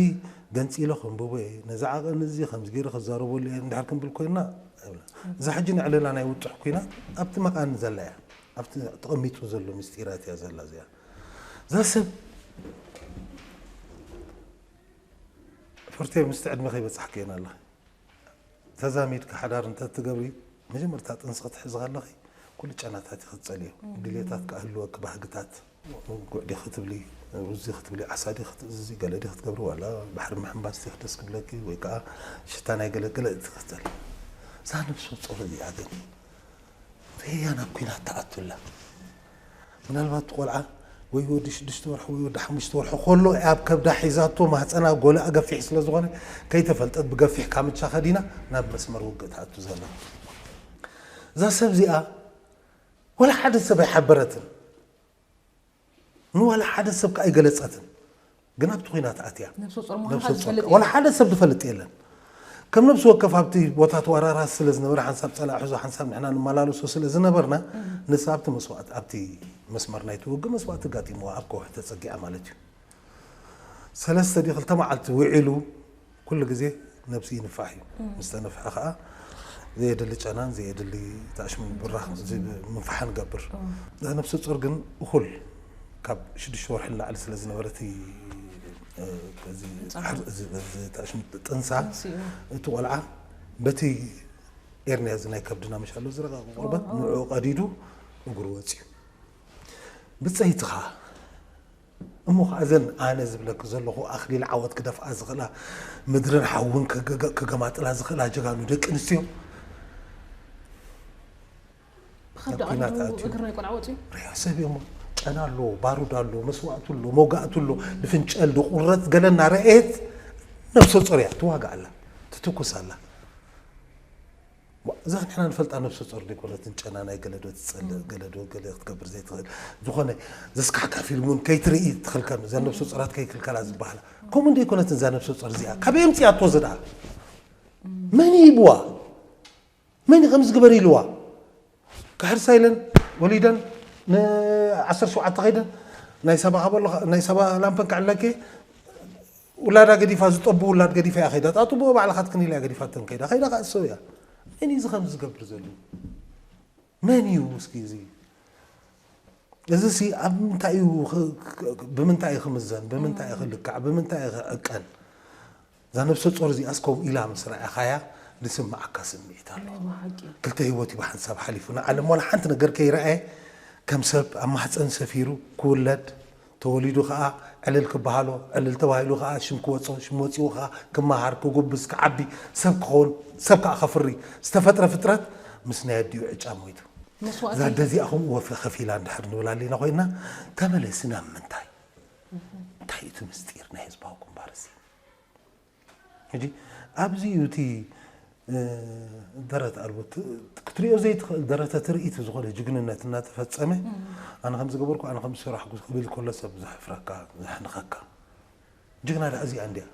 ገንጺለ ከንብቦ እየ፣ ነዚ ዓቐን እዚ ከምዚ ገይረ ክዛረበሉ እየ እንድሕር ክንብል ኮይንና ኣይብላን። እዛ ሕጂ ንዕለላ ናይ ውጥሕ ኩናት ኣብቲ መቓን ዘላ እያ። ኣብቲ ተቐሚጡ ዘሎ ምስጢራት እያ ዘላ እዚኣ። እዛ ሰብ ፍርቴ ምስቲ ዕድመ ከይበጻሕኪ እየን ኣለኺ ተዛሚድኪ ሓዳር እንተትገብሪ መጀመርታ ጥንሲ ክትሕዚ ከለኺ ኩሉ ጨናታት ኢኺ ትጸልዮ፣ ድሌታት ክህልወኪ ባህግታት ጉዕ ዲኺ ትብሊ፣ ሩዝ ዲኺ ትብሊ፣ ዓሳ ዲኺ ትእዝዚ፣ ገለ ዲኺ ትገብሪ፣ ዋላ ባሕሪ ምሕንባስ ዲኺ ደስ ክብለኪ ወይ ከኣ ሽታ ናይ ገለ ገለ ትኽተሊ። እዛ ነብሰ ጾር እዚኣ ግን ደያና ኣብ ኲናት ትኣቱ ኣላ። ምናልባት እቲ ቆልዓ ወይ ወዲ ሽዱሽተ ወርሒ ወይ ወዲ ሓሙሽተ ወርሒ ከሎ እያ ኣብ ከብዳ ሒዛቶ፣ ማህጸና ጎልኣ ገፊሕ ስለ ዝኾነ ከይተፈልጠት ብገፊሕ ካምቻ ከዲና ናብ መስመር ውግእ ትኣቱ ዘላ። እዛ ሰብ እዚኣ ዋላ ሓደ ሰብ ኣይሓበረትን ንዋላ ሓደ ሰብ ከኣ ኣይገለጸትን ግን ኣብቲ ኹናት ኣትያ ነብሰ ጾር ምዃንካ ነብሰ ጾር ዝፈልጥ ከኣ ዋላ የለን። ሓደ ሰብ ዝፈልጥ የለን ከም ነብሲ ወከፍ ኣብቲ ቦታ ተዋራራሲ ስለ ዝነበረ ሓንሳብ ጸላኢ ሕዞ ሓንሳብ ንሕና ንመላለሶ ስለ ዝነበርና ንሳ ኣብቲ መስዋእቲ ኣብቲ መስመር ናይቲ ውግእ መስዋእቲ ኣጋጢምዋ ኣብ ከውሒ ተጸጊዓ ማለት እዩ ሰለስተ ድዩ ክልተ መዓልቲ ውዒሉ ኩሉ ግዜ ነብሱ ይንፋሕ እዩ። ምስ ተነፍሐ ከዓ ዘየድሊ ጨናን ዘየድሊ ታእሽሙን ብራኽ ምንፋሕን ገብር። እዛ ነብሰ ጾር ግን እኹል ካብ ሽዱሽተ ወርሒ ንላዕሊ ስለ ዝነበረ እቲ እዚ ሕር- እዚ- እዚ ታእሽሙ ጥንሳ ጥንሲኡ። እቲ ቆልዓ በቲ ኤርንያ እዚ ናይ ከብድና መሻሎ ዝረቐቐ ቆርበት ንዕኡ ቀዲዱ እግሩ ወፂኡ ብፀይትኻ እሞ ኸኣ እዘን ኣነ ዝብለኪ ዘለኹ ኣኽሊል ዓወት ክደፍኣ ዝኽእላ፣ ምድርን ሓውን ክገማጥላ ዝኽእላ ጀጋኑ ደቂ ኣንስትዮ ብኸብዲ ናብ ኲናት ቀዲዱ ኣትዩ። እግሪ ናይ ቆልዓ ወጺኡ ሬሳ ሰብ እዩሞ ጨና ኣሎ፣ ባሩድ ኣሎ፣ መስዋእቲ ኣሎ፣ መውጋእቲ ኣሎ፣ ንፍንጨል ንቑረጽ ገለ እናረኣየት ነብሰ ጾር እያ ትዋጋእ ኣላ፣ ትትኩስ ኣላ። ዋእ እዚ ንሕና ንፈልጣ ነብሰ ጾር ዶ ኣይኮነትን ጨና ናይ ገለ ዶ ትጸልእ ገለ ዶ ገለ ክትገብር ዘይትኽእል ዝኾነ ዘስካሕክሕ ፊልም ውን ከይትርኢ ትኽልከል እዘን ነብሰ ጾራት ከይክልከላ ዝበሃላ ከምኡ ዶ ኣይኮነትን እዛ ነብሰ ጾር እዚኣ ካበይ ኣምጺኣቶ እዚ ደኣ መን እዩ ሂብዋ መን እዩ ከምዚ ግበሪ ኢልዋ ክሕርሳ ኢለን ወሊደን ን ዓሰርተ ሸውዓተ ከይደን ናይ ሰባ ሃበሎ ናይ ሰባ ላምፐን ክዕለኪ ውላዳ ገዲፋ ዝጠቡ ውላድ ገዲፋ እያ ከይዳ ጣጥብኦ ባዕላ ካትክኒላ እያ ገዲፋተን ከይዳ ከይዳ ከዓ እሰው እያ መን እዩ እዚ ከምዚ ዝገብር ዘሎ መን እዩ እስኪ እዚ እዚ ሲ ኣብ ምንታይ እዩ ክ- ክ- ብምንታይ እዩ ክምዘን ብምንታይ እዩ ክልካዕ ብምንታይ እዩ ክዕቀን እዛ ነብሰ ጾር እዚኣስ ከምኡ ኢላ ምስ ረኣኻያ ዝስምዓካ ስምዒት ኣሎ። ናይ ብሓቂ ክልተ ህይወት እዩ ብሓንሳብ ሓሊፉ። ንዓለም ዋላ ሓንቲ ነገር ከይረኣየ ከም ሰብ ኣብ ማህጸን ሰፊሩ ክውለድ፣ ተወሊዱ ከኣ ዕልል ክበሃሎ፣ ዕልል ተባሂሉ ከኣ ሽም ክወጾ፣ ሽም ወጺኡ ከኣ ክመሃር፣ ክጉብዝ፣ ክዓቢ፣ ሰብ ክኸውን፣ ሰብ ከኣ ከፍሪ ዝተፈጥረ ፍጥረት ምስ ናይ ኣዲኡ ዕጫ ሞይቱ። መስዋእቲ እዛ ኣደ እዚኣ ከምኡ ወፍሪ ከፊላ እንድሕር ንብል ኣሊና ኮይንና ተመለሲ ናብ ምንታይ? እንታይ እዩ እቲ ምስጢር ናይ ህዝባዊ ግንባር እዚ? ሕጂ ኣብዚ እዩ እቲ ደረት ኣልቦ ክትሪኦ ዘይትኽእል ደረተ ትርኢት ዝኾነ ጅግንነት እናተፈፀመ ኣነ ከም ዝገበርኩ ኣነ ከም ዝሰራሕኩ ክብል ከሎ ሰብ ዘሕፍረካ ዘሕንኸካ ጅግና ዳኣ እዚኣ እንዲያ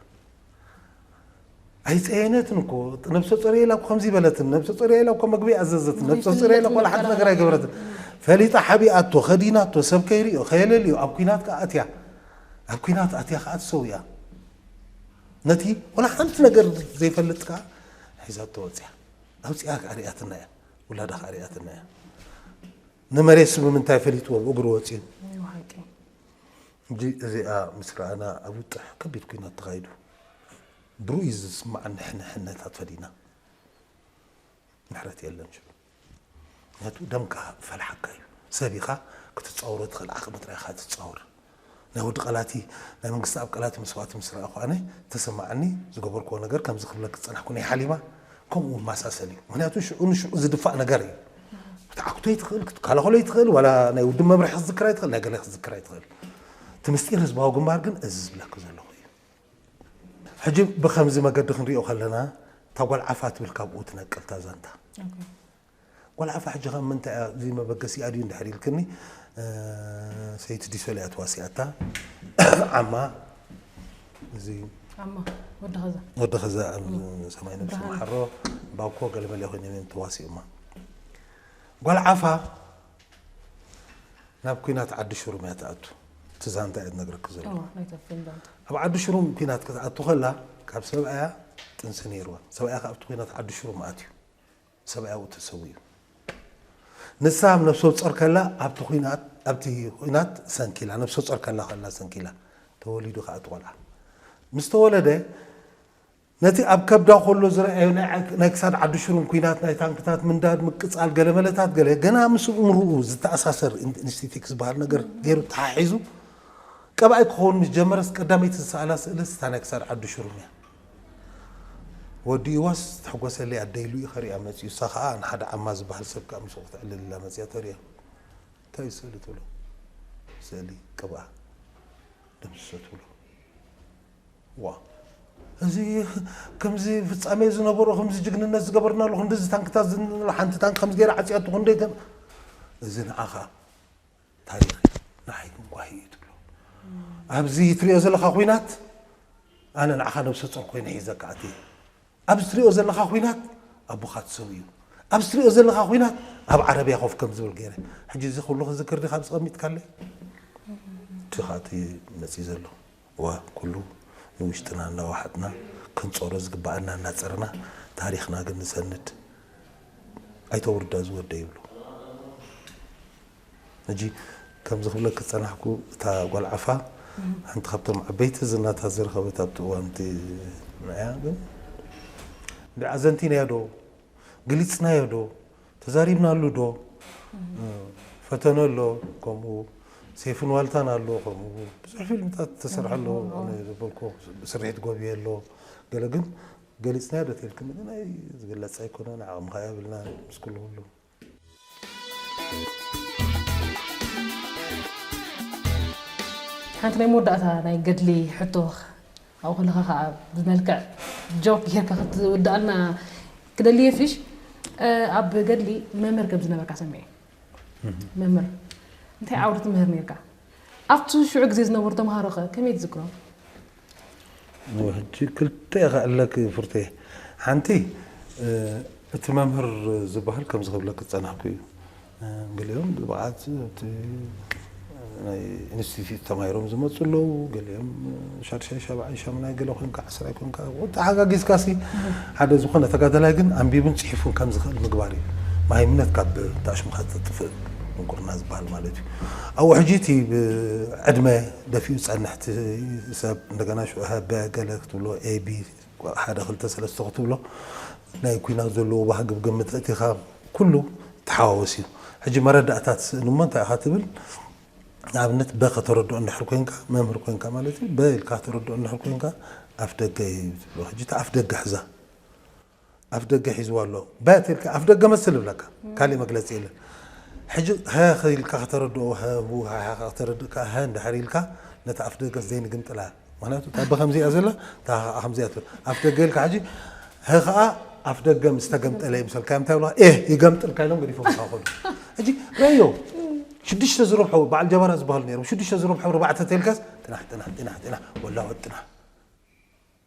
ኣይጸየነትን እኮ ነብሰ ጾርያ ኢላ እኮ ከምዚ በለትን ነብሰ ጾርያ ኢላ እኮ መግቢ ኣዘዘትን ነብሰ ጾርያ ኢላ እኮ ወላ ሓንቲ ነገር ኣይገበረትን ፈሊጣ ሓቢኣቶ ከዲናቶ ሰብ ከይሪኦ ከየለልዮ ኣብ ኩናት ከኣ ኣትያ ኣብ ኩናት ኣትያ ከኣ ትሰውያ ነቲ ወላ ሓንቲ ነገር ዘይፈልጥ ከኣ ሒዛቶ ወጽያ ኣውጽያ ከኣ ሪኣትና እያ ውላዳ ከኣ ሪኣትና እያ ንመሬት ስምምንታይ ፈሊጥዎ እግሩ ወጽዩ ሕጂ እዚኣ ምስ ረኣና ኣብ ውጥሕ ከቢድ ኲናት ተኻይዱ ብርኡይ ዝስማዕ ንሕንሕነታት ፈዲና ምሕረት የለን ሽሉ ምክንያቱ ደምካ ፈልሓካ እዩ ሰብ ኢኻ ክትጻወሮ ትኽእል ዓቕሚ ጥራይ ኢኻ ትጻወር ናይ ወዲ ቀላቲ ናይ መንግስቲ ኣብ ቀላቲ መስዋእቲ ምስ ረኣኹ ኣነ ተሰማዓኒ ዝገበርክዎ ነገር ከምዚ ክብለኪ ዝጸናሕኩ ናይ ሓሊማ ከምኡ ይመሳሰል እዩ ምክንያቱ ሽዑ ንሽዑ ዝድፋእ ነገር እዩ ክትዓክቶ ይትኽእል ክትከላኸሎ ይትኽእል ዋላ ናይ ውድብ መምርሒ ክትዝክር ኣይትኽእል ናይ ገለ ክትዝክር ኣይትኽእል እቲ ምስጢር ህዝባዊ ግንባር ግን እዚ ዝብለኪ ዘለኹ እዩ ሕጂ ብከምዚ መገዲ ክንሪኦ ከለና እታ ጓል ዓፋ ትብል ካብኡ ትነቅል እታ ዛንታ ጓል ዓፋ ሕጂ ከ ምንታይ እያ እዚ መበገሲኣ ድዩ እንድሕር ኢልክኒ ሰይቲ ዲሶል እያ ተዋሲኣታ ዓማ እዚ ዓማ ወዲ ከዛ ወዲ ከዛ ሰማይ ነብሲ መሓሮ ባኮ ገለመለ ኮይኖም እዮም ተዋሲኦማ ጓል ዓፋ ናብ ኩናት ዓዲ ሽሩም እያ ትኣቱ እቲ ዛንታ እየ ዝነግረኪ ዘሎ ኣብ ዓዲ ሽሩም ኩናት ክትኣቱ ከላ ካብ ሰብኣያ ጥንሲ ነይርዋ ሰብኣያ ካብቲ ኩናት ዓዲ ሽሩም ኣትዩ ሰብኣያዊ ተሰዊኡ ንሳ ኣብ ነብሰ ጾር ከላ ኣብቲ ኩናት ኣብቲ ኩናት ሰንኪላ ነብሰ ጾር ከላ ከላ ሰንኪላ ተወሊዱ ከኣ እቲ ቆልዓ ምስ ተወለደ ነቲ ኣብ ከብዳ ከሎ ዝረኣዮ ናይ ክሳድ ዓዲ ሽሩን ኩናት ናይ ታንክታት ምንዳድ ምቅጻል ገለ መለታት ገለ ገና ምስ እምርኡ ዝተኣሳሰር ኢንስቲቲክ ዝበሃል ነገር ገይሩ ተሓሒዙ ቀባኣይ ክኸውን ምስ ጀመረስ ቀዳመይቲ ዝሰኣላ ስእልስ እታ ናይ ክሳድ ዓዲ ሽሩን እያ ወዲ ኢዋስ ዝተሕጎሰለይ ኣደይ ሉኢ ከሪኣ መጺኡ እሳ ካኣ ንሓደ ዓማ ዝባሃል ሰብ ካኣ ምስኡ ክተዕልል ኢላ መጺኣ ተሪኣ እንታይ እዩ ስእሊ ትብሎ ስእሊ ቅብኣ ደምስሶ ትብሎ ዋእ እዚ ከምዚ ፍጻሜ ዝነበሮ ከምዚ ጅግንነት ዝገበርናሉ ክንድዚ ታንክታት ዝንሎ ሓንቲ ታንክ ከምዚ ገይራ ዓጽያቶ ክንደይ ከም እዚ ንዓኻ ታሪኽ እዩ ንዓይ ግን ጓሂ እዩ ትብሎ ኣብዚ ትሪኦ ዘለካ ኩናት ኣነ ንዓኻ ነብሰ ጾር ኮይነ ሒዘካ ኣትየ ኣብዚ ትሪኦ ዘለካ ኩናት ኣቦኻ ተሰውዩ ኣብዚ ትሪኦ ዘለካ ኩናት ኣብ ዓረብያ ኮፍ ከም ዝብል ገይረ ሕጂ እዚ ኩሉ ክዝክር ዲኻ ተቐሚጥካለይ እቲ ኻቲ መፅእ ዘሎ እወ ኩሉ ንውሽጥና እናወሓጥና ክንጸሮ ዝግበኣና እናጸርና ታሪኽና ግን ንሰንድ ኣይተ ውርዳ ዝወደ ይብሉ ሕጂ ከምዚ ክብለኪ ዝጸናሕኩ እታ ጓል ዓፋ ሓንቲ ካብቶም ዓበይቲ ዝናታት ዝረኸበት ኣብቲ እዋን እቲ ንዕያ ግን እንድዒ ኣዘንቲናዮ ዶ ግሊጽናዮ ዶ ተዛሪብናሉ ዶ ፈተነ ኣሎ ከምኡ ሴፍን ዋልታን ኣሎ ከምኡ ብዙሕ ፊልምታት ተሰርሐ ኣሎ ዝበልኩ ስርሒት ጎብየ ኣሎ ገለ ግን ገሊፅናዮ ዶ ተልክኒ ግን ኣይ ዝግለፅ ኣይኮነን ዓቕሚ ከዓ የብልና ምስ ኩሉ ኩሉ ሓንቲ ናይ መወዳእታ ናይ ገድሊ ሕቶ ካብኡ ከለካ ከኣ ብመልክዕ ጆክ ጌርካ ክትውድኣልና ክደሊ እየ ፊሽ ኣብ ገድሊ መምህር ከም ዝነበርካ ሰሚዐ መምህር እንታይ ዓውዲ ትምህር ነርካ ኣብቲ ሽዑ ግዜ ዝነበሩ ተምሃሮ ከ ከመይ ትዝክሮም ሕጂ ክልተ ኢኻ ኣለኪ ፍርቴ ሓንቲ እቲ መምህር ዝበሃል ከምዚ ክብለኪ ዝጸናሕኩ እዩ ገሊኦም ብብቕዓት ኣብቲ ናይ ኢንስቲትዩት ተማሂሮም ዝመፁ ኣለዉ ገሊኦም ሻድሻይ ሻብዓይ ሻሙናይ ገለ ኮንካ ዓስራይ ኮንካ ተሓጋጊዝካሲ ሓደ ዝኾነ ተጋዳላይ ግን ኣንቢቡን ፅሒፉን ከም ዝኽእል ምግባር እዩ መሃይምነት ካብ ታሽምካ ተጥፍእ ድንቁርና ዝበሃል ማለት እዩ ኣብ ውሕጂ እቲ ዕድመ ደፊኡ ዝፀንሕ ሰብ እንደገና ሽዑ ሃበ ገለ ክትብሎ ኤቢ ሓደ ክልተ ሰለስተ ክትብሎ ናይ ኩናት ዘለዎ ባህጊ ብግምት ኣእቲኻ ኩሉ ተሓዋወስ እዩ። ሕጂ መረዳእታ ትስእን እሞ እንታይ ኢኻ ትብል ንኣብነት በ ከተረድኦ እንድሕር ኮንካ መምህር ኮንካ ማለት እዩ በ ኢልካ ከተረድኦ እንድሕር ኮንካ ኣፍደገ እዩ ትብሎ ሕጂ እቲ ኣፍደገ ሕዛ ኣፍደገ ሒዝዋ ኣሎ በት ኢልካ ኣፍደገ መስል ይብለካ ካሊእ መግለጺ የለን ሕጂ ሀህ ኢልካ ከተረድኦ ሀሁ ሀሀ ከተረድእ ከኣ ሀ እንድሕር ኢልካ ነቲ ኣፍደገ ዘይንግምጥላ ምክንያቱ እታ ብ ከምዚኣ ዘላ እታ ሀ ከኣ ከምዚኣ ትብል ኣፍደገ ኢልካ ሕጂ ሀ ከኣ ኣፍደገ ምስ ተገምጠለ ይምሰልካ እንታይ ይብሉኻ ኤህ ይገምጥልካ ኢሎም ገዲፎምካ ከዱ ሕጂ ረዮ ሽዱሽተ ዝረብሖ በዓል ጀበራ ዝበሃሉ ነይሮም ሽዱሽተ ዝረብሖ ርባዕተ ተልካስ ጥናሕ ጥናሕ ጥናሕ ጥናሕ ወላወጥ ጥናሕ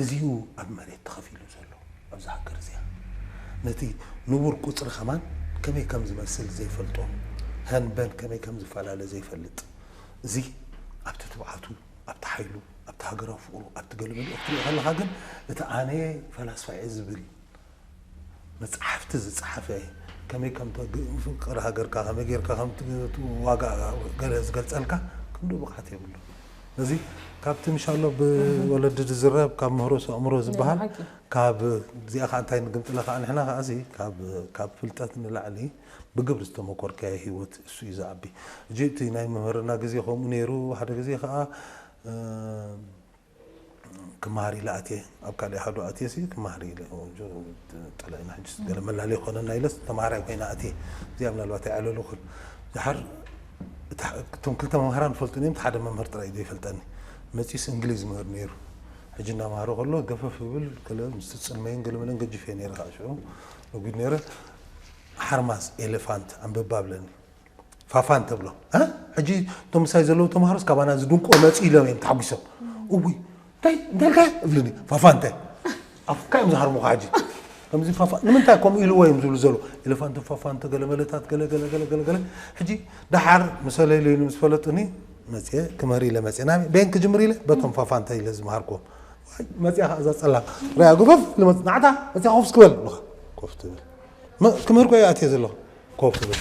እዚዩ ኣብ መሬት ተኸፊሉ ዘሎ ኣብዛ ሃገር እዚኣ ነቲ ንቡር ቁጽሪ ከማን ከመይ ከም ዝመስል ዘይፈልጦ ሀንበን ከመይ ከም ዝፈላለ ዘይፈልጥ እዚ ኣብቲ ትብዓቱ ኣብቲ ሓይሉ ኣብቲ ሃገራዊ ፍቅሩ ኣብቲ ገለመለ ኤርትርኡ ከለኻ ግን እቲ ኣነ ፈላስፋ እየ ዝብል መጻሕፍቲ ዝጸሓፈ ከመይ ከም ፍቅር ሃገርካ ከመይ ጌርካ ከም ዋጋ ገለ ዝገልጸልካ ክንድኡ ብቕዓት የብሉን። እዚ ካብቲ ምሻሎ ብወለዲ ዝዝረብ ካብ ምህሮስ ኣእምሮ ዝበሃል ካብ እዚኣ ከዓ እንታይ ንግምጥለ ከዓ ንሕና ከዓ እዚ ካብ ፍልጠት ንላዕሊ ብግብሪ ዝተመኮርካዮ ህይወት እሱ እዩ ዝዓቢ እጂ እቲ ናይ መምህርና ግዜ ከምኡ ነይሩ ሓደ ግዜ ከዓ ክመሃር ኢለ ኣትየ ኣብ ካልእ ኣሃዱ ኣትየሲ ክመሃር ኢለ ጠላይና ሕጂስ ገለ መላለዪ ክኾነና ኢለስ ተመሃራይ ኮይነ ኣትየ እዚኣ ምናልባት ኣይዓለሉክን ደሓር እቶም ክልተ መምሃራን ይፈልጡን እዮም ሓደ መምህር ጥራይ ዘይፈልጠኒ መጺስ እንግሊዝ ምህር ነይሩ ሕጂ እናመሃረ ከሎ ገፈፍ ይብል ገለ ምስ ትጽልመይን ገለ መለን ገጅፍ እየ ነይረ ከዓ ሽዑ ነጒድ ነይረ ሓርማዝ ኤሌፋንት ኣንብባ ብለኒ ፋፋን ተብሎ እ ሕጂ እቶም ምሳይ ዘለዉ ተምሃሮስ ካባና ዝድንቁ መፅኡ ኢሎም እዮም ተሓጒሶም እውይ እንታይ እንታይ ኢልካ እብልኒ ፋፋ እንታይ ኣፍካ እዮም ዝሃርሙኻ ሕጂ ከምዚ ፋፋ ንምንታይ ከምኡ ኢልዎ እዮም ዝብሉ ዘሎ ኤሌፋንት ፋፋንተ ገለ መለታት ገለ ገለ ገለ ገለ ገለ ሕጂ ደሓር ምሰለይለይሉ ምስ ፈለጡኒ መፅየ ክምህር ኢለ መፅየ ናብ ቤን ክጅምር ኢለ በቶም ፋፋንተ ኢለ ዝምሃርክዎም ዋይ፣ መፅያ ከዓ እዛ ፀላም ርያ ጉፈፍ ልመፅ ናዕታ መፅያ ኮፍ እስክበል ኣለኻ ኮፍ ትብል መ- ክምህር ኮ እየ ኣትየ ዘለኹ ኮፍ በል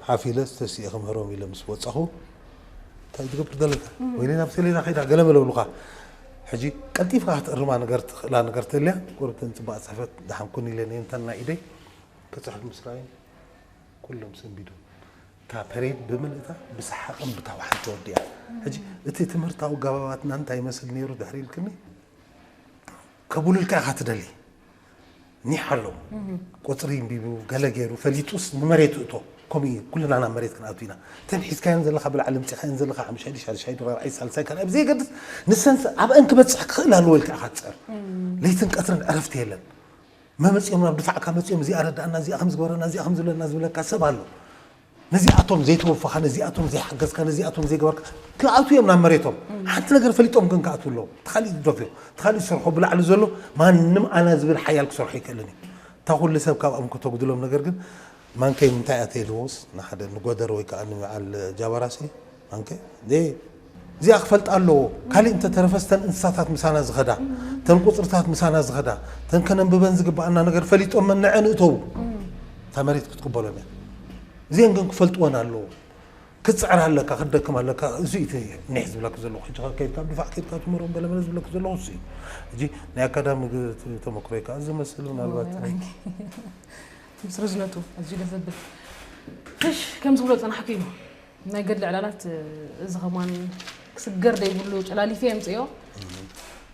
ሓፍ ኢለስ ተሲኤ ክምህሮም ኢለ ምስ ወጻኹ እንታይ እዩ ትገብር ዘለካ ወይኒ ናብ ሰሌና ከይዳ ገለ በለብሉካ ሕጂ ቀልጢፍካ ክትእርማ ነገር ትኽእላ ነገር ተልያ ጎረብተን ፅባቅ ፅሕፈት ድሓን ኩን ኢለን እየን እተን ናይ ኢደይ ክፅሕፍ ምስ ረኣዩን ኩሎም ሰንቢዶም እታ ፐሬድ ብምልእታ ብሰሓቕን ብታውሓን ተወዲኣ ሕጂ እቲ ትምህርታዊ ኣገባባትና እንታይ ይመስል ነይሩ ድሕሪ ኢልክኒ ከብሉልካ ኢኻ ትደሊ ኒሕ ኣሎ ቁጽሪ እንቢቡ ገለ ጌሩ ፈሊጡስ ንመሬት እቶ ከምኡ እዩ ኩልና ናብ መሬት ክንኣቱ ኢና እተን ሒዝካየን ዘለኻ ብላዕሊ ኣምጺኻየን ዘለኻ ሓሙሻይ ሻድሻይ ራብዓይ ሳልሳይ ካልኣይ ብዘየገድስ ንሰንስ ኣብአን ክበጽሕ ክኽእል ኣለዎ ኢልካ ኢኻ ትጽዕር ለይትን ቀትርን ዕረፍቲ የለን መመጺኦም ናብ ድፋዕካ መጺኦም እዚኣ ረዳእና እዚኣ ከምዝገበረና እዚኣ ከምዝብለና ዝብለካ ሰብ ኣሎ ነዚኣቶም ዘይተወፋኻ ነዚኣቶም ዘይሓገዝካ ነዚኣቶም ዘይገበርካ ክኣትዉ እዮም ናብ መሬቶም ሓንቲ ነገር ፈሊጦም ግን ክኣትዉ ኣለዎም እቲ ካሊእ ዝደፍኦ እቲ ካሊእ ዝሰርሖ ብላዕሊ ዘሎ ማንም ኣና ዝብል ሓያል ክሰርሖ ኣይክእልን እዩ እታ ኩሉ ሰብ ካብኦም ከተጉድሎም ነገር ግን ማንከይ ምንታይ ኣትየልዎስ ንሓደ ንጎደር ወይ ከዓ ንበዓል ጃባራሲ ኣንከ ደይ እዚኣ ክፈልጣ ኣለዎ ካሊእ እንተተረፈስ ተን እንስሳታት ምሳና ዝኸዳ ተን ቁፅርታት ምሳና ዝኸዳ ተን ከነንብበን ዝግባኣና ነገር ፈሊጦመን ንዐን እእተው እታ መሬት ክትቅበሎም እያ እዚአን ግን ክፈልጥወን ኣለዎ ክትፅዕር ኣለካ ክትደክም ኣለካ እዚ እቲ ኒሕ ዝብለክ ዘለኹ ሕጂ ከ ከይድካ ድፋዕ ከይድካ ትምህሮም ገለመለ ዝብለክ ዘለኹ እሱ እዩ ሕጂ ናይ ኣካዳሚ ተመክሮይ ከዓ እዚ መስል ምናልባት ምስ ርዝነቱ ኣዝዩ ደስ ዘብል ፍሽ ከም ዝብሎ ፀናሕኩ እዩ ናይ ገድሊ ዕላላት እዚ ከማን ክስገር ዘይብሉ ጨላሊፊ የምፅኦ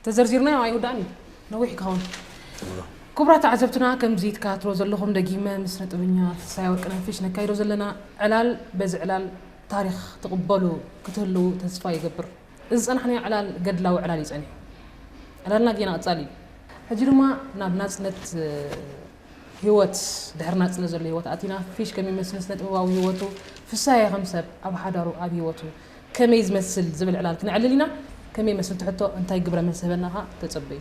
ተዘርዚርናዮ ኣይውዳእን እዩ ነዊሕ ክኸውን ክቡራት ተዓዘብትና ከምዚ ትከታትሎ ዘለኹም ደጊመ ምስ ነጥበኛ ትንሳኤ ወርቅነህ ፊሽ ነካይዶ ዘለና ዕላል በዚ ዕላል ታሪክ ትቕበሉ ክትህልው ተስፋ ይገብር እዚ ዝፀናሕናዮ ዕላል ገድላዊ ዕላል እዩ ፀኒሑ ዕላልና ጌና ቐፃሊ እዩ ሕጂ ድማ ናብ ናፅነት ህይወት ድሕሪ ናጽነት ዘሎ ህይወት ኣቲና ፊሽ ከም ይመስል ስነጥበባዊ ህይወቱ ፍሳየ ከም ሰብ ኣብ ሓዳሩ ኣብ ህይወቱ ከመይ ዝመስል ዝብል ዕላል ክነዕልል ኢና ከመይ ይመስል ትሕቶ እንታይ ግብረ መልሲ ህበና ከኣ ተጸበዩ።